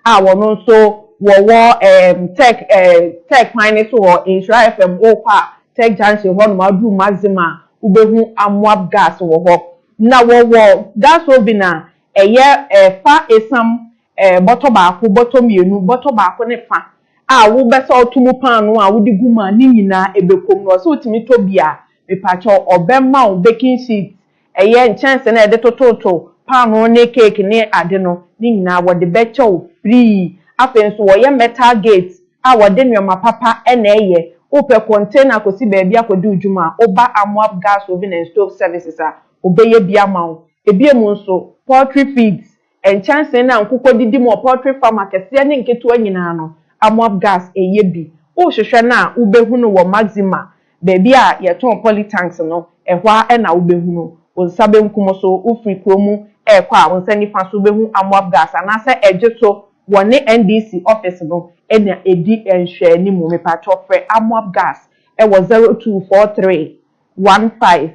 a wɔn nso wɔwɔ ɛɛm tech ɛɛ tech kwan no so wɔ Nhyira FM wokɔ a tech junction hɔnom aduru Mazima a wobɛhu Amoab Gas wɔ hɔ. Na wɔwɔ gas oven a ɛyɛ fa esiam bɔtɔ baako, bɔtɔ mmienu, bɔtɔ baako ne fa a wobɛsɔlto mu paanoo a wode gu mu a ne nyinaa ɛbɛkɔm no. Ɔse wotumi tɔ bi a, mepakyɛw ɔbɛma wo baking sheet, ɛyɛ nkyɛnse no a yɛde tototo paanoo ne cake ne ade no, ne nyinaa wɔde bɛkyɛ wo free. Afei nso wɔyɛ metal gate. a wɔde nneɛma papa na ɛyɛ, wopɛ container akɔsi baabi akɔdi wo dwuma a, woba Amoab Gas Oven and Stove Services a, wɔbɛyɛ bi ama wo. Ebiem nso, poultry feeds, nkyɛnsee no a nkokɔ didi mu wɔ poultry farm akɛseɛ ne nketewa nyinaa no, Amoab Gas yɛ bi. Wohwehwɛ no a, wobɛhu no wɔ Maxima Baabi a yɛtɔn poly tanks no, ɛhɔ ara na wobɛhunu. Wo nsa benkum so, wofiri kuro mu rekɔ a, wo nsa nifa so wobɛhu Amoab Gas anaasɛ ɛgye to wɔne NDC office no na ɛdi nhwɛanimu. Mepakyɛw frɛ Amoab Gas wɔ zero two four three one five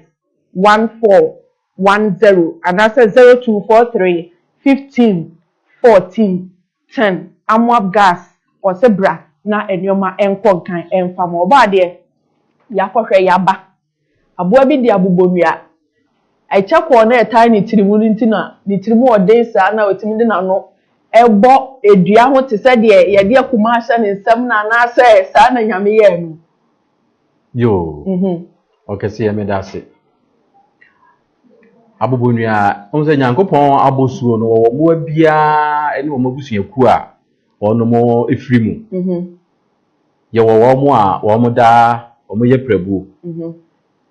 one four one zero anaasɛ zero two four three fifteen fourteen ten amoab gas ɔse bra na nnoɔma nkɔ nkan mfa ma ɔbaa deɛ yakɔ hwɛ yaba aboa bi de abobɔ nua ɛkyɛ kɔɔ na ɛtae ne tiri mu no nti na ne tiri mu ɔden saa na watumi de nano ɛbɔ dua ho te sɛ deɛ yɛde akuma ahyɛ ne nsam no anaasɛ saa na nyame yɛɛ no. Yoo, mm-hmm. ɔkɛseɛ meda ase. Abobonua, ɔhu sɛ Nyankopɔn abosuo no wɔwɔ mmoa biara ne wɔn abusuakuo a wɔnom ɛfiri mu. Mm-hmm. Yɛwɔ wɔn a wɔn da wɔn yɛ prabuo. Mm-hmm.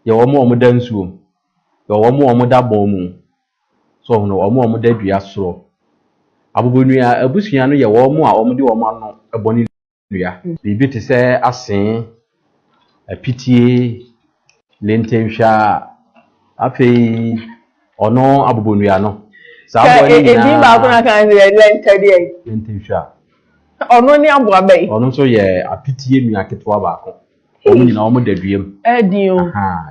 Yɛ wɔn a wɔn da nsuo. Yɛ wɔn a wɔn da bɔn mu. So ɔhono wɔn a wɔn da dua soro. Abobonua abusua no yɛ wɔn a wɔn de wɔn ano bɔ ne dua. Biribi te sɛ asee, apitie, lentenhwa, afei ɔno abobonnua no. Saa aboa no nyinaa. Edin baako na kan sɛ yɛ lɛntɛdeɛ. Lentenhwa. Ɔno ne aboa bɛyi. Ɔno nso yɛ apitie nua ketewa baako. Wɔn nyinaa wɔn da dua mu. Ɛdi o.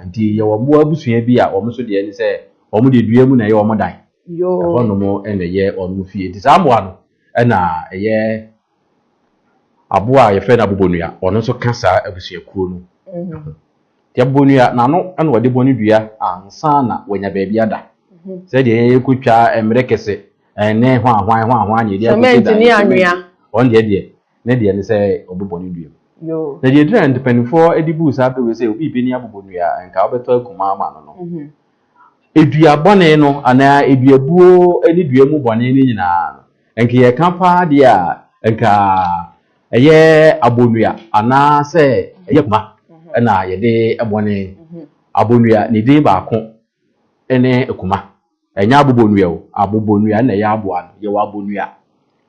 Nti yɛ wɔn mmoa abusua bi a wɔn nso deɛ ne sɛ wɔn deɛ dua mu na ɛyɛ wɔn dan. Yoo. Ɛhɔ nom na ɛyɛ wɔn fie. Nti saa mmoa no ɛna ɛyɛ. Aboa a yɛfrɛ no abobonua, ɔno nso ka saa abusuakuo no ho. Nti abobonua, n'ano na wɔde bɔ ne dua ansa na wanya baabi ada. Sɛ deɛ yɛn yɛkɔtwa mmerɛ kɛse, ɛnne hwanhwan hwanhwan ne yɛde akɔsi dan. Sɛmɛnti ne anwea. Ɔno deɛ deɛ, ne deɛ ne sɛ ɔbobɔ ne dua mu. Na deɛ ɛduru a mpanimfoɔ de buu saa bere wei sɛ obi rebɛni abobonua a, nka wobɛtɔ akuma ama no no. dua bɔne no anaa duabuo ne dua mu bɔne no nyinaa no, nka yɛka paa deɛ a, nka ɛyɛ abonnua anaa sɛ ɛyɛ akuma na yɛde bɔne. Abonnua, ne din baako ne akuma. Ɛnyɛ abobonnua o, abobonnua na ɛyɛ aboa no. Yɛwɔ abonnua.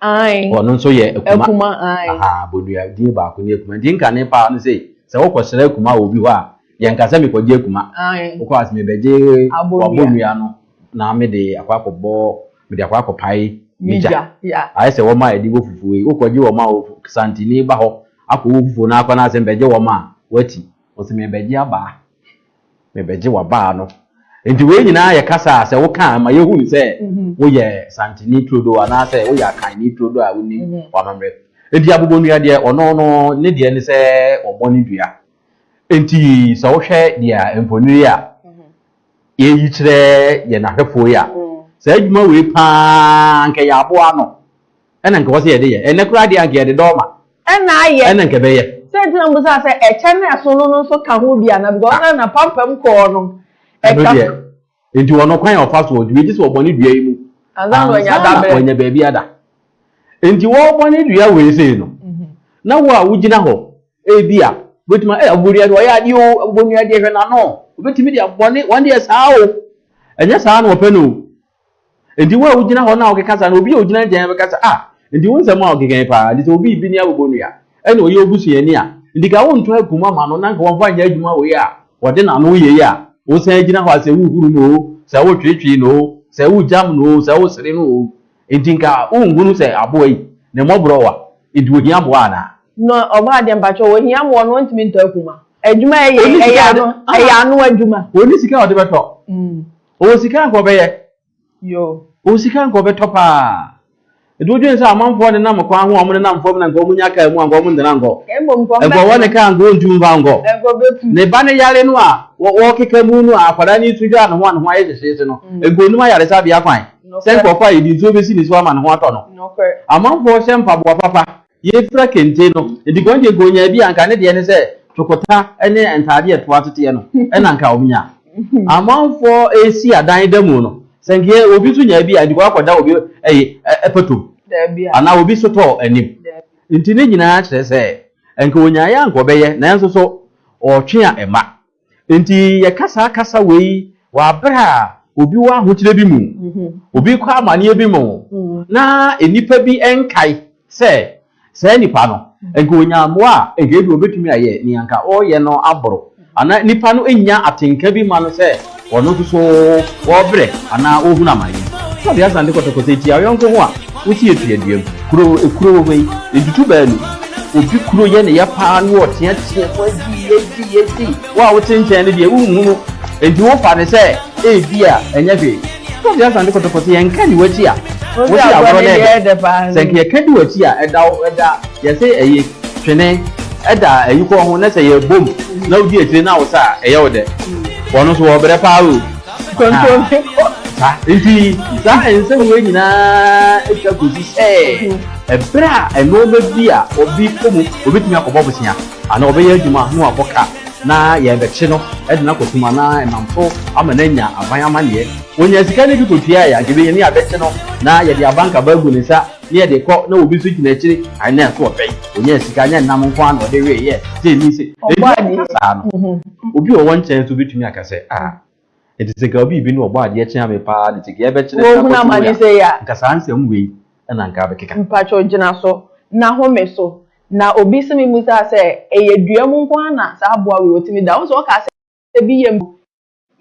Ae. Ɔno nso yɛ akuma. Akuma, ae. Aha, abodua din baako ne akuma. Nti nka ne paa no sei, sɛ wokɔsrɛ akuma wɔ obi hɔ a, yɛnka sɛ mekɔgye akuma. Ae. Wokɔ a, sɛ mebɛgye Abodua. w'abodua no na mede akɔ akɔbɔ, mede akɔ akɔpae me Me gya. gya, ya. Ayɛ sɛ wɔn a yɛde bɔ fufuo yi, wokɔgye wɔn a wɔf, Santini ba hɔ akɔbɔ fufuo no akɔ na asɛ mebɛgye wɔn a, wati. Ɔse mebɛgye abaa. Mebɛgye w'abaa no. Enti wei nyinaa yɛ kasa a sɛ woka a, ɛma yɛhu no sɛ woyɛ Santini turodoo anaasɛ woyɛ Akanni turodoo a wonim w'amammerɛ. Enti abobonnua deɛ, ɔno no ne deɛ ne sɛ ɔbɔ ne dua. Enti sɛ wohwɛ deɛ mfonini yi a yɛreyi kyerɛ yɛn ahwɛfoɔ yi a, saa adwuma wei pa ara anka ɛyɛ aboa ano. Ɛna nka ɔsɛ yɛde yɛ. Ɛnɛ koraa deɛ anka yɛde dɔɔ ma. Ɛna ayɛ. Ɛna nka ɛbɛyɛ. Sɛ nti na mbusa sɛ ɛkyɛ no ɛso no no nso ka ho bi ana because ɔka na pampam kɔɔ no ɛka. Ɛno deɛ nti wɔn kwan a ɔfa so ɔdi wei gye sɛ ɔbɔ ne dua yi mu ansa na wanya da berɛ. Wanya baabi ada. Nti wɔrebɔ ne dua wei sei no na wo a wogyina hɔ ebi a wobɛtumi ɛ abobodua deɛ ɔyɛ adeɛ o abobonua deɛ hwɛ n'ano obɛtumi de abɔ ne wɔn deɛ saa o ɛnyɛ saa na wɔpɛ no o. Enti wo a wogyina hɔ na wokeka saa no, obi a ogyina nkyɛn no bɛka sɛ, Ah, enti wo nsɛm a wokeka yi paa, enti sɛ obi rebi ne abobonnua, ɛnna ɔyɛ wo busuani a, enti ka wontɔ akum ama no na nka wɔmfa nyɛ adwuma wei a wɔde n'ano yɛ yi a wosan gyina hɔ a sɛ wohuru no oo, sɛ wotweetwee no oo, sɛ wogyam no oo, sɛ wosere no oo, enti nka wonhunu sɛ aboa yi, ne mmɔborɔ wa, enti ohia mmoa anaa? No, ɔbaa deɛ mpakyɛw, ohia mmoa no, ɔntumi ntɔ akum a. Adwuma a ɛyɛ yi, ɛyɛ ano, ɛyɛ ano adwuma. Ɔnni sika a ɔde bɛtɔ. Ɔwɔ sika anka ɔbɛyɛ. Yoo. Ɔwɔ sika anka ɔbɛtɔ paa. Ɛde odwen sɛ amanfoɔ ne nam kwan ho a wɔde nam fam no anka wɔnya kaa mu anka wɔntena nkɔ. Mmom nkɔ mbɛtena. Anka ɔwɔ ne kaa anka ɔntu mfa nkɔ. Anka ɔbɛtu. Ne ba no yare no a ɔrekeka mu no a akwadaa no resu dwa a ne ho a ne ho ayɛ hyehyeese no, anka ɔnnim ayaresabea kwan sɛ nkurɔfoɔ a yɛde nsuo bɛsi ne so ama ne ho atɔ no. Amanfoɔ hyɛ mpaboa papa Yefira kente no, edi kɔn deɛ nka onyaa bi a nka ne deɛ ne sɛ tokota ne ntaadeɛ ɛtoa teteɛ no ɛna nka wɔn nya. Amanfoɔ ɛresi adan da mu no, sɛ nka obi nso nyaa bi a edi kɔn akɔ da obi ɛyi ɛpɛtom anaa obi sotɔɔ anim. Nti ne nyinaa kyerɛ sɛ nka onyaeɛ a nka ɔbɛyɛ nanso so ɔtwe a ɛma. Enti yɛka saa kasa wei wɔ aber a obi wɔ ahokyerɛ bi mu, obi rekɔ amanneɛ bi mu, na nnipa bi nkae sɛ saa nipa no, nka onya mmoa a, nka ebi obetumi ayɛ nea nka ɔreyɛ no aboro, anaa nnipa no nnya atenka bi mma no sɛ ɔno nso so ɔrebrɛ anaa ɔrehunu amanneɛ. Sɛdeɛ Asante kɔtɔkɔtɔ tia ɔyɔnko ho a, Wosi efi adua mu. Kuro ekuro wɔ hɔ yi ntutu baa nu. Obi kuro yɛ ne yɛ paa no ɔtea tea mu adi adi adi. Wo a wote nkyɛn no deɛ wonhu no nti wofa no sɛ ebi a ɛnyɛ hwee. Wode asan de kɔtɔkɔ sɛ yɛn ka di w'akyi a wose agorɔ no yɛ dɛ. Sɛ nka yɛka di w'akyi a ɛda wo ɛda yɛse ɛyɛ twene ɛda ayukɔ ho na sɛ yɛbom na wodi akyire na wosa a ɛyɛ wo dɛ. Wɔn nso wɔbrɛ paa o. Kontompo. Saa nti saa nsɛm wei nyinaa atwa kɔsi sɛ ɛberɛ a nnoɔma bi a obi kɔ mu, obɛtumi akɔbɔ bosea anaa ɔbɛyɛ adwuma na wabɔ ka na yɛrebɛkye no de no akɔtom anaa ɛnam so ama no anya aban amanneɛ. Ɔnya sika no bi kɔtuaeɛ a, anka ɛbɛnya ni a bɛkye no na yɛde abanka ba agu ne nsa na yɛde rekɔ na obi nso gyina akyire ae na ɛso ɔpɛ yi, ɔnyaa sika, nyɛ nnam nko ara na ɔde weeɛ, sei ne sei. Enti ɔnka saa no. Obi a ɔwɔ nkyɛn nso betumi aka sɛ, Ah, enti sɛ anka obi bi na ɔbɔ adeɛ kyɛn me paa de, sɛ anka yɛbɛkyere sɛ akɔto wei a, anka saa nsɛm wei na anka abɛkeka. Mpakyɛw gyina so na home so. Na obi se me mmusaa sɛ, Ɛyɛ dua mu nko ara na saa aboa wei otumi da? Wohu sɛ wɔkaa sɛ ebi yɛ mpo,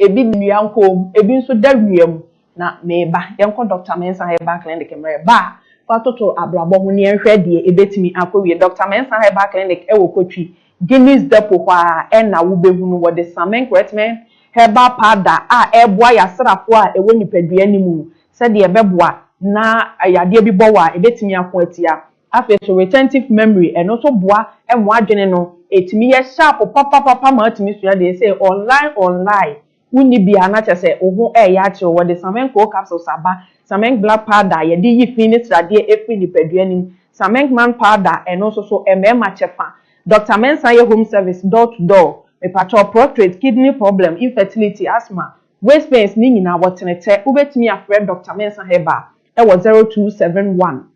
ebi da nnua nkɔn mu, ebi nso da wia mu. Na meba, yɛnkɔ Dɔkta Mensah Herbal Clinic mmerɛ ba a, fa toto abrabɔ ho na yɛnhwɛ deɛ ɛbɛtumi akɔwie. Dɔkta Mensah Herbal Clinic wɔ Kotwi, Guinness Depot hɔ ara na wobɛhunu. Wɔde Samen Kretmen Herbal Powder a ɛreboa yasrafoɔ a ɛwɔ nipadua no mu sɛdeɛ ɛbɛboa na yadeɛ bi bɔ wo a, ɛbɛtumi ako atia. Afei nso Retentive Memory, ɛno nso boa ma w'adwene no ɛtumi yɛ sharp papapapa ma watumi sua deɛ ɛsɛ online online. wonni bi a na kyerɛ sɛ wo ho reyɛ akyere wo. Wɔde Samenk coal capsules aba, Samenk black powder a yɛde yi fi ne sradeɛ firi nipadua no mu, Samenk man powder a ɛno nso so mmarima kyɛfa, Doctor Mensah yɛ home service door to door. Mepakyɛw, Proctorate, kidney problem, infertility, asthma, waist pains ne nyinaa wɔtene kyɛ. Wobɛtumi afrɛ Doctor Mensah Herbal wɔ 0271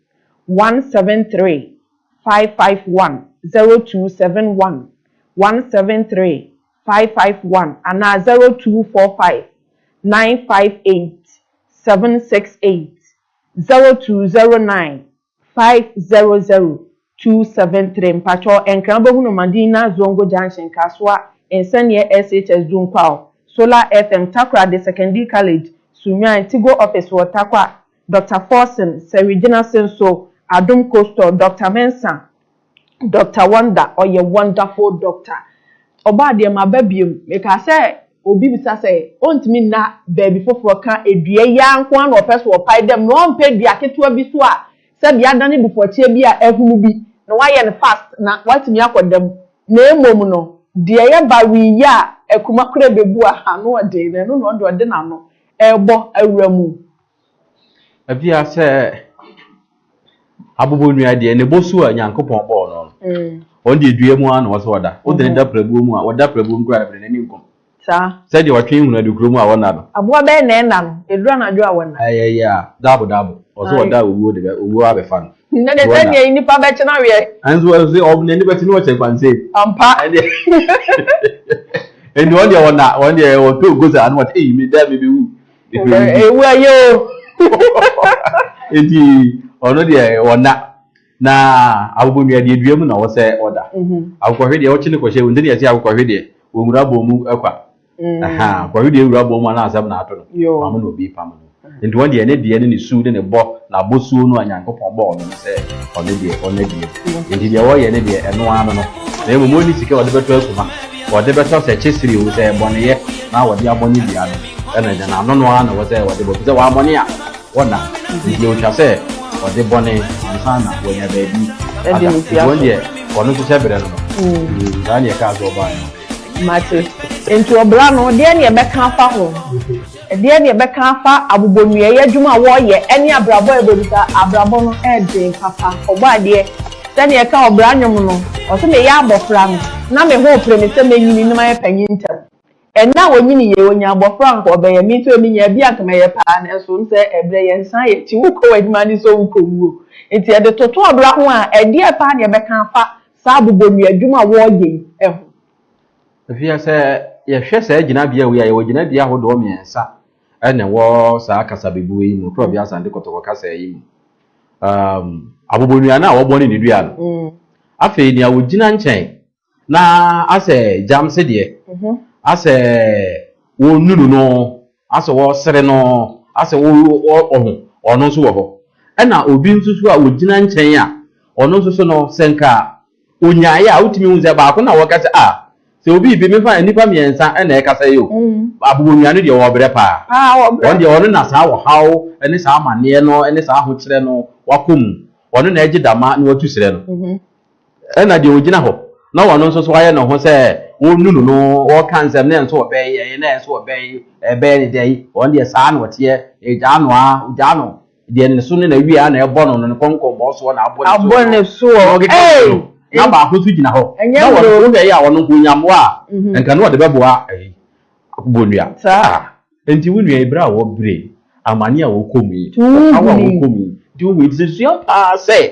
173 551, 0271 173 five five one anaa zero two four five nine five eight seven six eight zero two zero nine five zero zero two seven three mpakyɛw ɛnkran bɛhunu Madina Zongo Junction Kasoa Nsɛnniɛ SHS Dun Kwaw Solar FM Takoradi Secondary College Sunnwan Tigo Office wɔ Tarkwa Doctor Forson Sɛwi Gyinasin so Adom Coastore Doctor Mensah Doctor Wonder ɔyɛ wonderful doctor ɔbaa deɛ maba biom mekaa sɛ obi bisa sɛ ɔntumi nna baabi foforɔ ka dua yi ara nko ara na ɔpɛ so ɔpae dam na ɔmpɛ dua ketewa bi so a sɛdeɛ adane dufɔkyeɛ bi a ahunu bi na wayɛ no fast na watumi akɔ dam na mmom no deɛ yɛ ba we yi a akuma koraa bɛbu a ano ɔden no ɛno na ɔde ɔde n'ano rebɔ awura mu Ebia sɛ abobonnua deɛ, ne bɔ su a Nyankopɔn bɔɔ no no, mm. ɔno deɛ dua mu ara na ɔsɛ ɔda. Wode no mhm. da prabuo mu a, ɔda prabuo mu kura no n'ani nkɔm. Saa. Sɛdeɛ ɔtwe hunu adu kuro mu a wɔnna no. Aboa bɛyɛ na ɛnna no, ɛduru anadwo a wɔnna. Ɛyɛ yɛ a, daabo daabo, ɔsɛ ɔda owuo de bɛ owuo abɛfa no. Na de sɛ deɛ nnipa bɛkye no aweɛ. Ɛnso ɛsɛ ɔmo n'ani bɛkye no ɔkyɛ kwanse. Ampa. Ɛdeɛ ɛnni wɔn deɛ wɔnna wɔn deɛ wɔtɔ ogoza ano wɔte eyi mi dɛ mi bi wu. Ewu ayɛ o. Eti ɔno deɛ ɔna na akokɔ nua deɛ dua mu na ɔsɛ ɔda. Mhm. Akokɔhwe deɛ ɔkye ne kɔhyɛ wo nti na yɛse akokɔhwe deɛ ɔnwura bɔn mu kwa. Mm. Aha, akokɔhwe deɛ ɛwura bɔn mu a na asɛm na ato no. Yoo. Maame na obi pam no. Nti wɔn deɛ ne deɛ ne ne su ne ne bɔ Na bosuo no a Nyankopɔn bɔɔ no no sɛ ɔno deɛ ɔnya biom, enti deɛ ɔyɛ ne deɛ ɛno ara no no, na mmom ɔnni sika a ɔde bɛtɔ akuma, ɔde bɛtɔ sɛ kyesere o, sɛ bɔneyɛ, na ɔde abɔ ne dua no, ɛno deɛ na ano no ara na ɛwɔ sɛ ɔde bɔ, ɛfiri sɛ wammɔne a wɔnna, enti ɔtwa sɛ ɔde bɔne ansa na wanya baabi ada, enti wɔn deɛ wɔn nso hyɛ berɛ no no, saa na yɛkaa sɛ ɔbaa no. Mate. Enti ɔbra no, deɛ na yɛbɛka afa ho? Ɛdeɛn na yɛbɛka afa abobɔnuayɛ adwuma a wɔreyɛ ne abrabɔ a yɛbɛdi sɛ abrabɔ no ɛɛden papa? Ɔbɔadeɛ, sɛdeɛ ɛka ɔbra nnwom no, ɔse, Meyɛ abɔfra no, na me ho repere me sɛ mɛnyini na mayɛ panyin ntɛm. Ɛnnɛ a wɔnyini yei, ɔnya abɔfra a anka ɔbɛyɛ, me nso ɛmi nyaa bi a anka mɛyɛ pa ara, nanso wonim sɛ ɛberɛ yɛ, nsan yɛ akyi, wokɔ w'adwuma ne sɛ wokɔ wuo. Enti ɛde toto ɔbra ho a, ɛdeɛn pa ara na yɛbɛka afa saa abobɔnuayɛ adwuma a wɔreyɛ yi ho? Afei sɛ yɛhwɛ saa gyinabea wei a, yɛwɔ gyinabea ahodoɔ mmiɛnsa na ɛwɔ saa kasabebuo yi mu, Kurɔbea Asante Kotoko kasa yi mu. Um, abobonua no a wɔbɔ ne ne dua no. Mm. Afei nea wɔgyina nkyɛn na asɛ gyam se deɛ, mhm. asɛ wɔnunu no, asɛ wɔsere no, asɛ wɔho, ɔno nso wɔ hɔ. Ɛna obi nso so a wɔgyina nkyɛn a, ɔno nso so no sɛ nka Onyae a wotumi hu sɛ baako na wɔka sɛ ah sɛ obi bi mefa nnipa mmiɛnsa na ɛkasa yi o Abowonwia no deɛ ɔwɔ brɛ paa ɔno deɛ ɔno na saa ɔhaw ne saa amaneɛ no ne saa ahokyerɛ no wakɔ mu ɔno na agye dama na watu serɛ no ɛna deɛ ɔgyina hɔ na ɔno nso so ayɛ ne ho sɛ ɔnunu no ɔka nsɛm na ɛnso ɔbɛyi ɛyɛ na ɛnso ɔbɛyi ɛbɛyɛ ne dɛ yi ɔno deɛ saa na ɔteɛ ɛgyaa no a ɔgyaa no Deɛ ne so ne n'awie ara na ɛbɔ no no, ne kɔnkɔnbɔn soɔ na abɔ ne soɔ no. Abɔ ne soɔ, na ɔde bɔ ne no, na baako nso gyina hɔ, na ɔno nso na ɛyɛ a ɔno nko nya mmoa a, nka na ɔde bɛboa ɛyi, bonnua. Saa a, enti wo nua yi, berɛ a wɔbrɛ yi, amane a wokɔ mu yi, ɔhaw a wokɔ mu yi, deɛ wohu yi, nti sɛ sua pa ara sɛ,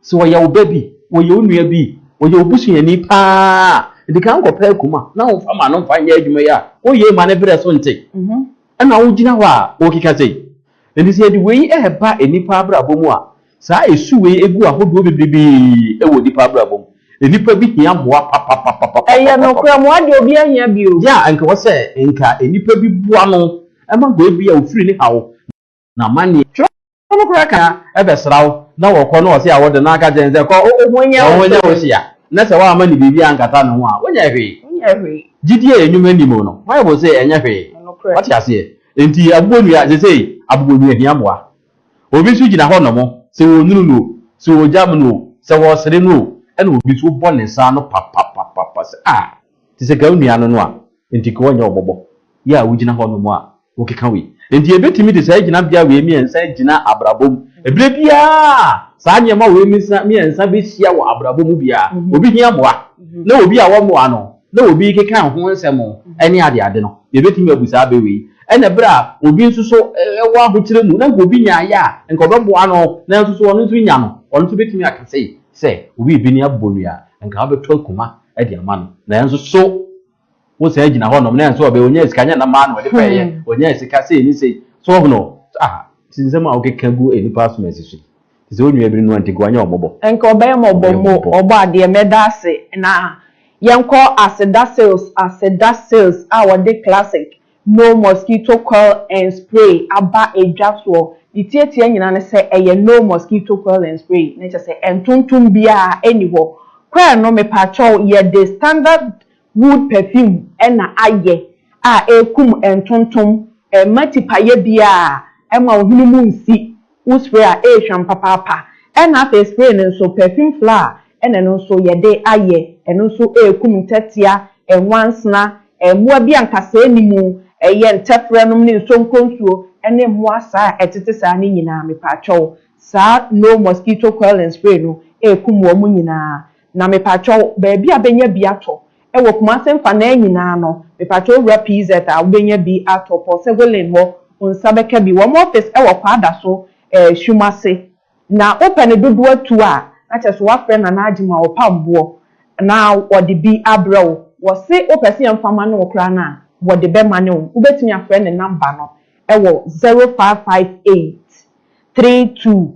sɛ wɔyɛ wo ba bi, wɔyɛ wo nua bi, wɔyɛ wo busuani pa ara a, di kan kɔpɛ akuma, na womfa ma no mfa nyɛ adwuma yi a, woyɛ yi ma ne berɛ so nte, ɛnna wogyina hɔ a wokeka sei, Enti sɛ yɛde wei reba nnipa abrabɔ mu a, saa su wei gu ahodoɔ bebrebe wɔ nnipa abrabɔ mu. Nnipa bi hia mmoa papapapapapapapap. Ɛyɛ nokorɛ, mmoa deɛ obiara hia bi o. Yea, nka ɛwɔ sɛ nka nnipa bi boa no ma hɔ ebia ofiri ne haw na amanneɛ. Twerɛ no koraa ka sɛ, bɛsra wo na wɔkɔ na wɔse awode na aka kyerɛ no sɛ, kɔ, wo ho nyɛ wo hyia, na sɛ woamma no biribi ankata ne ho a, wonyɛ hwee. Gyidie a nnwuma nni mu no, Bible se ɛnyɛ hwee. Wate aseɛ? Enti abobonua, sesei abobonua hia mmoa. Obi nso gyina hɔ nom, sɛ wɔnunu no o, sɛ wɔgyam no o, sɛ wɔsere no o, ɛna obi nso wobɔ ne nsa ano papapapapa sɛ ah, te sɛ ka wo nua no no a, enti ka ɔnyɛ wo bɔbɔ. Yɛ a wogyina hɔ nom a, wokeka wei. Enti yɛbɛtumi de saa gyinabea wei mmiɛnsa agyina abrabɔ mu. Ɛberɛ biara a saa nneɛma wei mmiɛnsa bɛhyia wɔ abrabɔ mu biara, obi hia mmoa. Na obi a wɔmmoa no, na obi rekeka ho nsɛm ne adeade no, yebetumi abu saa bɛ wei. Ɛna bere a obi nso so wɔ ahokyere mu, na nka obi nya ayɛ a, nka ɔbɛboa no, nanso so ɔno nso nya no? Ɔno nso betumi aka sei sɛ, Obi rebɛni abonnua a, nka ɔbɛtɔ akuma de ama no, nanso so wosan gyina hɔnom, na nso ɔbɛ, onyaa sika, nyɛ nam ara na ɔde pɛɛyɛ, onyaa sika sei ne sei. So, ɔhono? Ah, nti nsɛm a wokeka gu nnipa asom asi so yi, Te sɛ onua bi no a, nti nka wanyɛ ɔmmɔbɔ. Nka ɔbɛyɛ mmɔbɔ mo Ɔbɔadeɛ, mɛda ase na yɛnkɔ aseda sales Aseda sales a wɔde classic no mosquito coil and spray aba edwa soɔ Ne tiatia nyinaa ne sɛ ɛyɛ no mosquito coil and spray ne kyɛ sɛ ɛntontom biara ɛnni hɔ Kɔɛ no mepaakyɛw yɛde standard Wood perfume na ayɛ a ɛkum ntontom, ɛmma tipaeɛ biara, ɛmma wo hwene mu nsi, wo spray a ɛrehwam papaapa. Ɛna afei spray no nso perfume flour na ɛno nso yɛde ayɛ, ɛno nso ɛrekum ntɛtea, nwansena, mmoa bi a nkasɛɛ nni mu, ɛyɛ ntɛferɛ nom ne nsonkonsuo ne mmoa saa a ɛtete saa no nyinaa mepaakyɛw saa no mosquito coiling spray no ɛrekum wɔn nyinaa. Na mepatwɔw baabi a benya bi atɔ wɔ Kumase mfanaa nyinaa no mepatwɔw Owura PZ a wobenya bi atɔ Paul Sego Lane hɔ wo nsa bɛka bi wɔn office wɔ Kwaa Da so eh Sum ase na wopɛ no dodoɔ atu a na kyerɛ sɛ woafrɛ Nana Agye ma ɔpam boɔ na ɔde bi abrɛ wo wɔse wopɛ sɛ yɛmfa ma ne wo koraa no a wɔde bɛma ne wo wobɛtumi afrɛ ne number no wɔ zero five five eight three two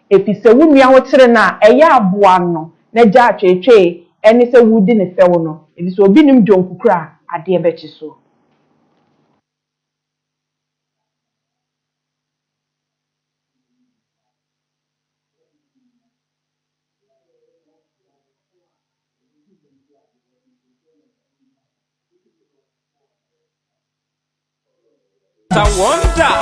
efisɛ wo nua ho kyere no a, ɛyɛ a boa no na gyaa tweetwee ɛne sɛ woredi no fɛw no, efisɛ obi nnim deɛ ɔnkukura a adeɛ bɛkye so. It's a wonder.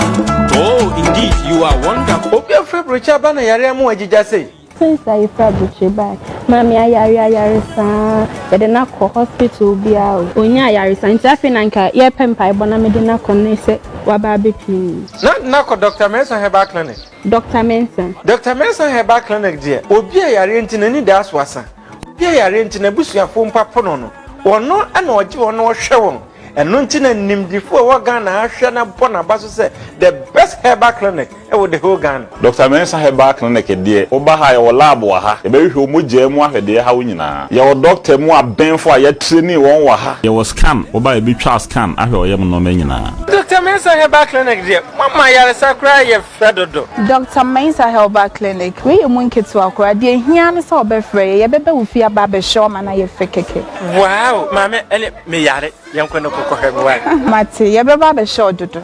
Oh, indeed, you are wonderful. Obi afura brochure aba na yare ama wagyigya sei. Since I fura brochure bae, maame ayare ayare saa, yɛde no akɔ hospital biara o. Ɔnya ayaresa nti afei na nka yɛrepɛ mpaebɔ na mede no akɔ ne sɛ waba abɛpue mu. Na de no akɔ Doctor Mensah Herbal Clinic. Doctor Mensah. Doctor Mensah Herbal Clinic deɛ, obi a yareɛ nti n'ani da so asa. Obi a yare nti n'abusuafo mpo apo no no, ɔno na ɔgye wɔn na ɔhwɛ wɔn. Ɛno nti na nimdefo a ɛwɔ Ghana ha hwɛ na bɔ n'aba so sɛ the best herbal clinic wɔ the whole Ghana. Doctor Mensah Herbal Clinic deɛ, woba ha a yɛwɔ lab wɔ ha, yɛbɛhwehwɛ wo mogyaa mu ahwɛ deɛ ɛha wo nyinaa. Yɛwɔ doctor mu abɛnfo a yɛatreni wɔn wɔ ha. Yɛwɔ scan, woba a yɛbɛtwa scan ahwɛ ɔyam nnoɔma nyinaa. Doctor Mensah Herbal Clinic deɛ, moama ayaresa koraa yɛ Frɛ dodo. Doctor Mensah Herbal Clinic, wei yɛ mu nketewa koraa, deɛ ɛhia ne sɛ ɔbɛfrɛ yɛ, yɛbɛba wo fie aba abɛhwɛ wo ama no ayɛ fɛ kɛkɛ. Wow! Maame ɛne me yare, yɛnkɔ no kɔkɔ hwɛ me wai. Mate, yɛbɛba abɛhwɛ wo dodo.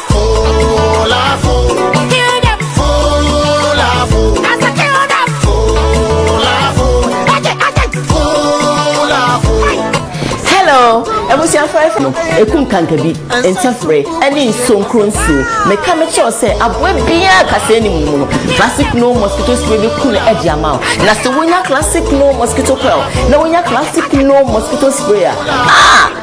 no ɛku nkanka bi nkyɛfrɛ ɛne nsonkuro nsuo meka mekyerɛw sɛ aboa biaa kasɛ anim no mu no classic no mosquito spray bɛku no adi ama wo na sɛ wonya classic no mosquito coil na wonya classic no mosquito spray a ah!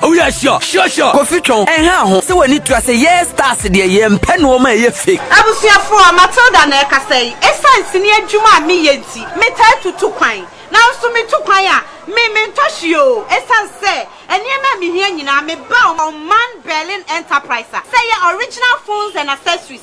Oh yeah, sure, sure, sure. Kofi twɔn, ɛnha ho sɛ w'ani tua sɛ yɛɛ stars deɛ yɛmpɛ nnoɔma a ɛyɛ fake. Abusuafoɔ, Matilda na ɛrekasa yi. Esiane sini adwuma a meyɛ nti, metaa tutu kwan. Nanso metu kwan a, me mentɔ hwee oo. Esiane sɛ nneɛma a mehia nyinaa, meba ɔman Berlin Enterprise a sɛ ɛyɛ original phones and accessories,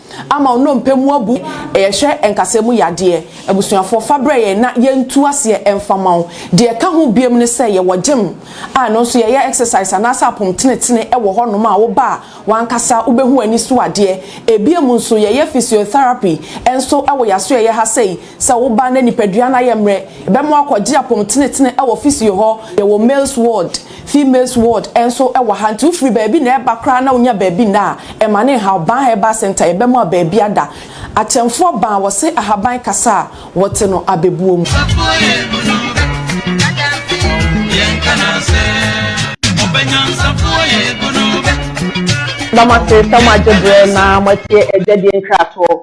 ama wo nnompe mu abu. Yɛhwɛ nkasɛɛ mu yadeɛ abusuafoɔ fa brɛ yɛn na yɛntu aseɛ mfa mma wo. Deɛ ɛka ho biom ne sɛ yɛwɔ gyem a ɛno nso yɛyɛ exercise anaasɛ apom tenetene wɔ hɔ nom a wo ba a wankasa wobɛhu ani so adeɛ. Ebiom nso yɛyɛ physiotherapy nso wɔ y'asoɛeɛ ha sei sɛ wo ba na nipadua no ayɛ mmerɛ yɛbɛma wakɔgye apom tenetene wɔ physio hɔ. Yɛwɔ males ward. Females ward nso wɔ ha nti wofiri baabi na ɛreba koraa na wonya baabi nna a, ɛma no nhaw. Ban Herbal Centre, yɛbɛma wo baabi ada. Akyɛmfoɔ Ban, wɔse ahaban kasa a, wɔte no abɛbuo mu. Yɛda mo ase sɛ moagye berɛ na moatie Agya Din Nkratoɔ.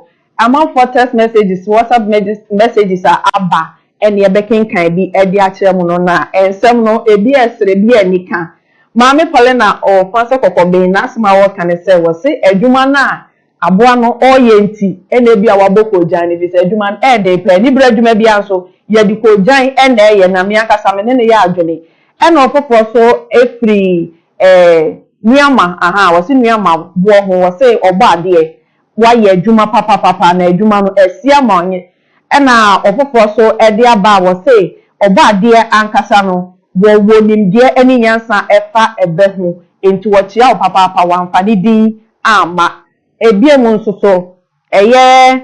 Amanfoɔ text messages, WhatsApp messages a aba ne yɛbɛkenkan bi de akyerɛ mo no na nsɛm no ebi yɛ serɛ ebi yɛ anika. Maame Paulina ɔɔfa sɛ kɔkɔben n'asɛm a ɔɔka ne sɛ wɔse adwuma no a aboa no ɔɔyɛ nti na ebia wabɔ koogyan no efisɛ adwuma no ɛɛden paa ani bere adwuma biara nso yɛde koogyan na ɛɛyɛ na me ankasa me ne no yɛ adwene ɛna ɔfoforɔ nso firi ɛɛ Nuamah ahaa wɔse Nuamah boɔ ho wɔse ɔbɔ adeɛ wayɛ adwuma papapapa na adwuma no asia ma ɔnye ɛna ɔfoforɔ so de aba a wɔse ɔbɔ adeɛ ankasa no wɔwɔ nimdeɛ ɛne nyansa ɛfa ɛbɛ ho nti wɔkyea wo papaapa wamfa ne din amma ɛbiom nso so ɛyɛ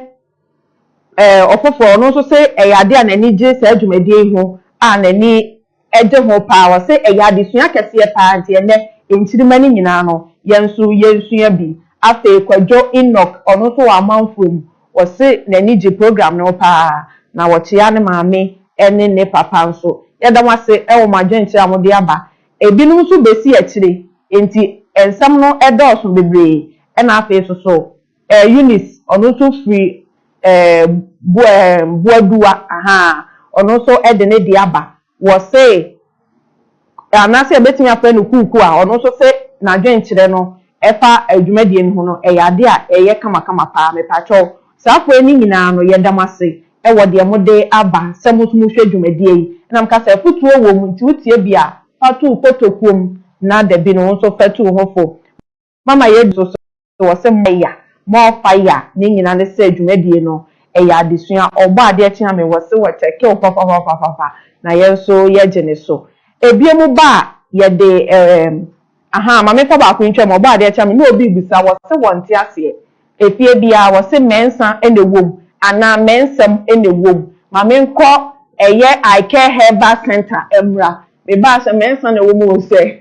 ɛɛ ɔfoforɔ ɔno nso se ɛyɛ adeɛ a n'ani gye saa dwumadie yi ho a n'ani Ɛgye ho paa, wɔse ɛyɛ adesua kɛseɛ paa nti ɛnnɛ nkyirimma no nyinaa no yɛn nso yɛnsua bi. Afei Kwadwo Enoch ɔno nso wɔ amanfoɔ mu, wɔse n'ani gye program no ho paa na wɔkyea ne maame ne ne papa nso. Yɛda mo ase wɔ mo adwenkyerɛ a mode aba. Ɛbinom nso bɛsi akyire nti nsɛm no dɔɔso bebree na afei nso so, Eh, Eunice, ɔno nso firi eh, bo eh, Boaduwa, ahaa, ɔno nso de ne deɛ aba. Wɔse, anaasɛ yɛbɛtumi afrɛ no Kuuku a, ɔno nso se n'adwenkyerɛ no ɛfa eh, dwumadie no ho no, ɛyɛ adeɛ a ɛyɛ kamakama pa ara. Mepakyɛw, saa afoɛ no nyinaa no, yɛda mo ase eh, wɔ deɛ mode aba sɛ mo nso mohwɛ dwumadie yi. Ɛna meka sɛ, afotuo wɔ mu, nti wotie bi a, fa to wo kotokuo mu, na dabi no, wo nso fa tu wo ho fo. Mama yɛadi so sɛ wɔ sɛ more ya, more fire ne nyina ne sɛ dwumadie no ɛyɛ adesua ɔbɔ adeɛ kyea me wɔ se wɔ tɛkew fafafafafaffa na yɛn nso yɛgye ne so ebiom ba a yɛde erm ahaa ma me fa baako ntwa mu ɔbɔ adeɛ kyea me na obi bisa wɔ se wɔ nte aseɛ efie biara wɔ se mɛnsa na ɛwom anaa mɛnsɛm na ɛwom ma me nkɔ ɛyɛ I care herbal center mmra me baa sɛ mɛnsa na ɛwom o sɛ.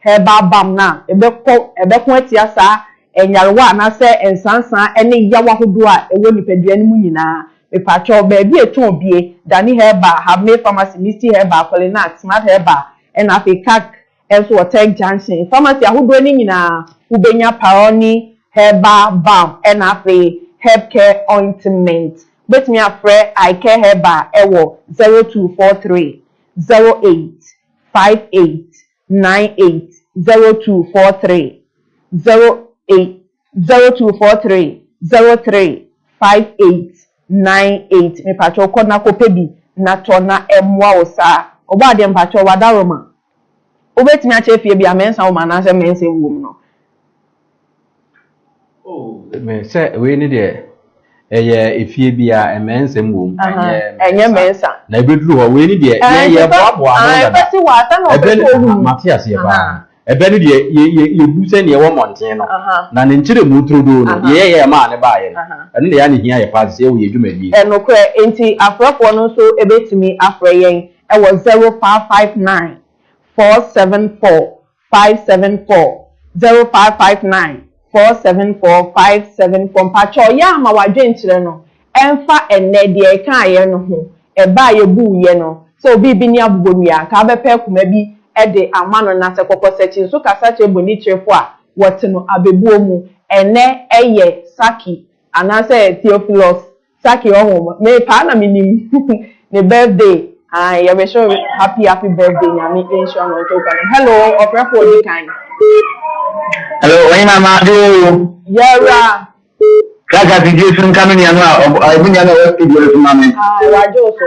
herbal balm no a ɛbɛkɔ ɛbɛko atia saa nyarewa anaasɛ nsansaa ɛne yaw ahodoɔ a ɛwɔ nipadua no mu nyinaa. Mepakyɛw, baabi a ɛtɔn bie, Dani Herbal, Habmay Pharmacy, Misty Herbal, Qualinac, Smart Herbal, ɛna afei Kac nso wɔ Tech Junction. Pharmacy ahodoɔ no nyinaa wobɛnya Paroni Herbal Balm ɛna afei Herb Care Ointment. Wobɛtumi afrɛ Icare Herbal ɛwɔ zero two four three, zero eight, five eight, nine eight zero two four three zero eight zero two four three zero three five eight nine eight mepakyɛw kɔ na kɔpɛ bi na tɔ na ɛmmoa wo saa ɔbɔ adeɛ mepakyɛw w'adaworoma wobɛtumi akyɛ fie bi a mɛnsa wom anaasɛ mɛnsa nwom no. sɛ wei ne deɛ ɛyɛ efie bi a mmɛnsɛm wɔ mu ɛnyɛ mmɛnsa na ebeduru hɔ wei ne deɛ yɛyɛ boaboa ano dada ɛbɛ ne mate aseɛ paa ɛbɛ ne deɛ yɛbu sɛ deɛ ɛwɔ mmɔnten no na ne nkyerɛ mu turodoo no deɛ yɛyɛ ɛmaa ne baayɛ no ɛno deɛ yɛ ne hia yɛ paa sɛ yɛwɔ yɛ dwumadie. Ɛnokorɛ nti afrɛfoɔ no nso ebetumi afrɛ yɛn ɛwɔ zero five five nine four seven four five seven four zero five five nine four seven four five seven four mpakyɛw yɛ a ma w'adwenkyerɛ no ɛnfa ɛnnɛ deɛ yɛkaayɛ no ho ɛbɛ a yɛbuu yɛ no sɛ obi rebɛni abobonua nka abɛpɛ akuma bi de ama no na sɛ kɔkɔsakyi nso kasa kyerɛ bonikyerefo a wɔte no abɛbuo mu ɛnnɛ ɛyɛ saki anaasɛ theophilus Saki ɔho me paa na me nim ne birthday ae yɛ wish wo happy happy birthday nyame nhyira no nto nka nom hello ɔfrɛ fo odi kan. Hello ɔnye na ma ade oo. Yɛwura. Saka ti di esu nka me nua no a ɔbu nua no a ɔwɔ studio no so ma me. Ae wagye wo so.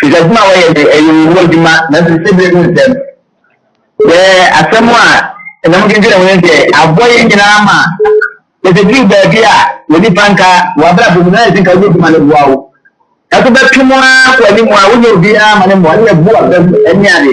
Hwehwɛ adwuma a wɔyɛ de ɛyɛ wɔn mu adwuma nanso sisi bere mu nsɛm. Sɛ asɛm a ɛnam dwendwene ho ne sɛ aboa yɛn nyinaa ma yɛtwetwe baabi a wɔ nipa nka wɔ abrabɔ mu na ayɛ sɛ nka wonyɛ adwuma no boa wo. Nanso bɛtwe mu ara kɔ anim a wonyɛ obiara ma ne mmoa ne yɛbu aba mu ne ade.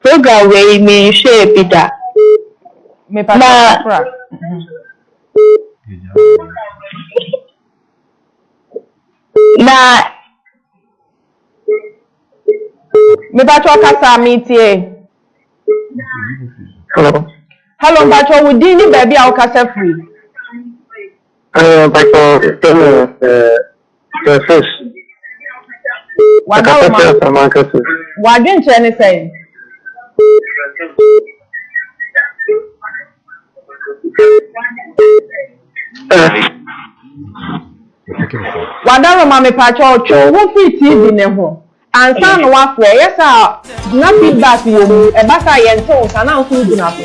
Program wei me nhwɛɛ bi da. Mepatɔ sakra. Na. Mepatɔ kasa me tie. Hello. Hello mpatɔ wo din ne baabi a wo kasa firi. Mpatɔ sɛ mo. Sɛ fish. Wada wo ma. W'adwenkyerɛ ne sɛn? Wada wo ma mepatwɛ ɔtwe wo ho firi TV ne ho Ansa na woafrɛ. Yɛ saa a na feedback wɔ mu. Ɛba saa a yɛnte wo nka, na nso wogyina so.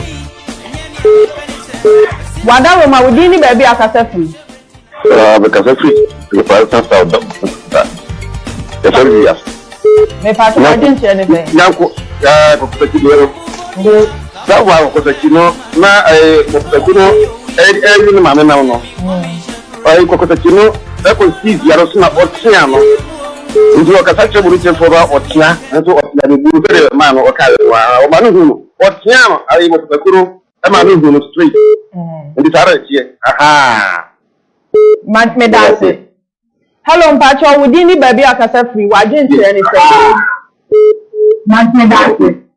W'adaworoma, wo din ne baabi a wokasa firi. Ah, mekasa firi Reparation South da Kuta. Yɛfrɛ me Wiase. Mepatwo w'adwenkyerɛ ne sɛ. Nyanko, ah, kɔkɔtaki deɛ no. Nde. Saa wa kɔkɔtaki no, na eh, kɔkɔtaki no, eh, eh, ne maame nam no. Mm. Ɔyɛn kɔkɔtɛtse no kɔsii dua no so na ɔtseaa no. Ntsi ɔkasa kyerɛɛ bɔbekyerɛfo no a ɔtsea nso ɔtsea no bio sɛdeɛ ɔmaa no ɔkaa yɛ no ara. Ɔmaa no huu no. Ɔtseaa no ara yi wɔ papa koro maa no huu no straight. Ntsi saa ara ɛteɛ. Ahaa. Ma, meda ase. Hello, mpakyɛw, wo din ne baabi a ɔkasa firi, w'adwenkyerɛ ne sɛn? Meda ase.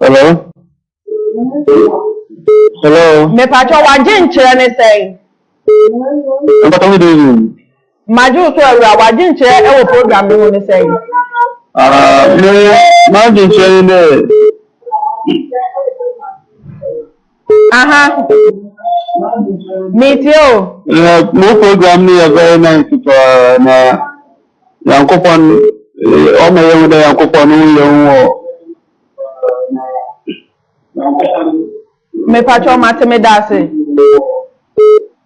Hello? Hello? Mepatwɔ wagye nkyerɛ ne sɛn? Mepatwɔ me dezi. Magye wo so awura wagye nkyerɛ ɛwɔ program no mu ne sɛn? Ah, me magye nkyerɛ ne dɛ. Aha. Me tie o. Yeah, mo program no yɛ very nice paa na Nyankopɔn ɔma yɛn ho dɛ Nyankopɔn no yɛ ho wɔ. Me patro mate me da ase.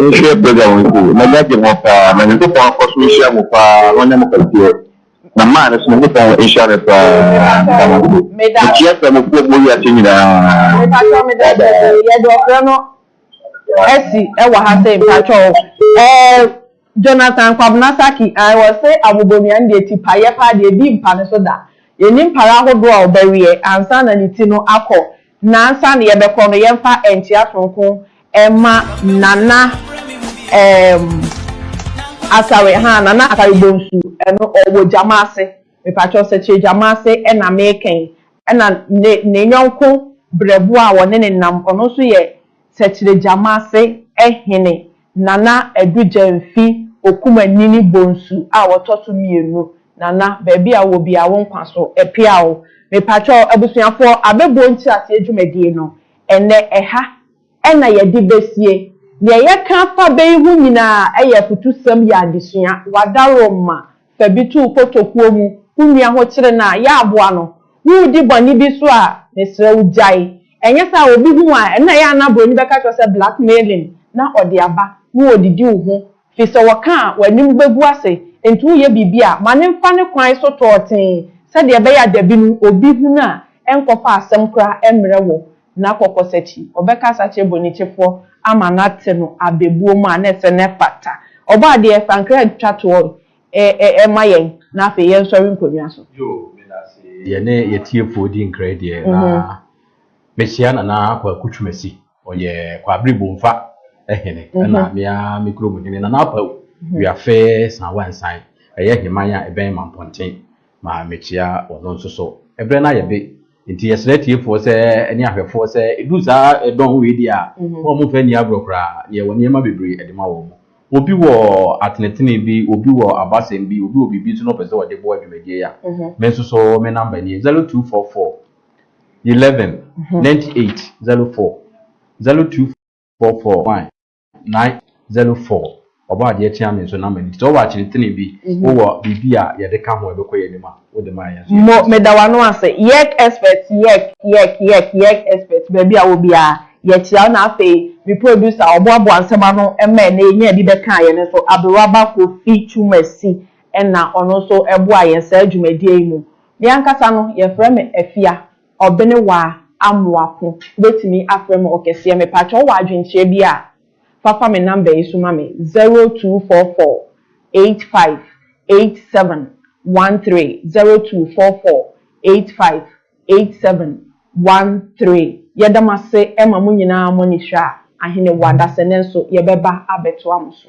Monhwɛ program wei sei, m'ani agye ho paa, na Nyankopɔn nkɔ so nhyira mo paa na ɔnyɛ mo kɛseɛ, na man no nso Nyankopɔn nhyira no paa, meda mo ase, mekyia Kramofoɔ mu wɔ wiase nyinaa, bye bye. Yɛde ɔfrɛ no asi wɔ ha sei mpakyɛw. Jonathan Kwabena Saki, Ae wɔse abobonua no deɛ ti pa yɛ paa deɛ ɛdi mpa no so da. Yɛnnim pare ahodoɔ a ɔbɛweɛ ansa na ne ti no akɔ na ansa na yɛbɛkɔ no yɛmfa nkyea sononko mma Nana eem Asare haa Nana Asare Bonsu no ɔwɔ Gyamase mepakyɛw Sɛkyerɛ Gyamase na meka yi ɛna ne ne yɔnko Brɛboɔ a wɔne no nam ɔno nso yɛ Sɛkyerɛ Gyamase hene Nana Adu Gyang fi Okumanyini Bonsu a wɔtɔ so mmienu. Nana, baabi a wowɔ biara wo nkwa so pea o. Mepakyɛw abusuafoɔ, abɛbuo nkyerɛaseɛ dwumadie no, ɛnnɛ ɛha na yɛde bɛsie. Deɛ yɛka fa bɛ yi ho nyinaa yɛ afutusɛm yɛ adesua, w'adaworo mma. Fa bi to wo kotokuo mu, wo nua ho kyere no a, yɛ aboa no. Woredi bɔne bi so a, mesrɛ wo gyae. Ɛnyɛ saa a, obi hu wo a, ɛno na ɛyɛ a na buroni bɛka kyerɛ wo sɛ blackmailing na ɔde aba na wɔdidi wo ho. Firi sɛ wɔka a, w'anim bɛgu ase. Enti woreyɛ biribi a, ma no mfa ne kwan so tɔɔtee sɛdeɛ ɛbɛyɛ a dabi no obi hunu a, ɛnkɔfa asɛm koraa mmrɛ wo. na kɔkɔsakyi, ɔbɛkasa akyerɛ bonitsefoɔ ama no atse no abɛbuo mu a na ɛsɛ na ɛfata. Ɔbɔ adeɛ, sankra twa toɔ no, ɛ-ɛ-ɛ ma yɛn na afei yɛnsɔre nkonnwa so. Yoo, medase yɛne yɛtiefoɔ di nkra deɛ na mehyia Nana Kwaku Twumasi, ɔyɛ Kwabere Bomfa hene ɛna me ara me kurom hene Nana Apawu Wiafe Sanwansan, ɛyɛ Heman a ɛbɛn Mampɔnten, ma mekyia ɔno nso so. Ɛberɛ no ayɛ be Enti yɛsrɛ atiefoɔ sɛ ne ahwɛfoɔ sɛ ɛduru saa ɛdɔn wei deɛ a, mma wɔn mfa nni agorɔ koraa na yɛwɔ nneɛma bebree ɛde ma wɔn. Obi wɔ atenetene bi, obi wɔ abasɛm bi, obi wɔ biribi nso na ɔpɛ sɛ ɔde boa dwumadie yi a, me nso so me number nie, 0244 11 98 04, 0244 11 Na Zelo fɔɔ Ɔbɔ adeɛ kyeaa me nso na m'ani gye. Sɛ wowɔ akyinitene bi, wowɔ biribi a yɛde ka ho a ɛbɛkɔ yɛn anim a, wode ma a yɛn nso yɛn ani Mo, gye. meda w'ano ase. Yɛk expert, yɛk, yɛk, yɛk, yɛk expert, baabi a wɔ biara, yɛkyea wo na afei me producer ɔboaboa nsɛm ano ma ɛnnɛ yɛnyaa bi bɛkaa yɛn nso, Aberwaba Kofi Twumasi na ɔno nso boaa yɛn saa dwumadie yi mu. Me ankasa no, yɛfrɛ me Afia. Ɔbene waa amoa ko wobɛtumi afrɛ me ɔkɛseɛ mepakyɛw wowɔ adwenkyerɛ bi a fa fa me number yi so ma me zero two four four eight five eight seven one three zero two four four eight five eight seven one three yɛda mo ase ma mo nyinaa mo ani hwɛ a ahene wo adasɛ nanso yɛbɛba abɛtoa mo so.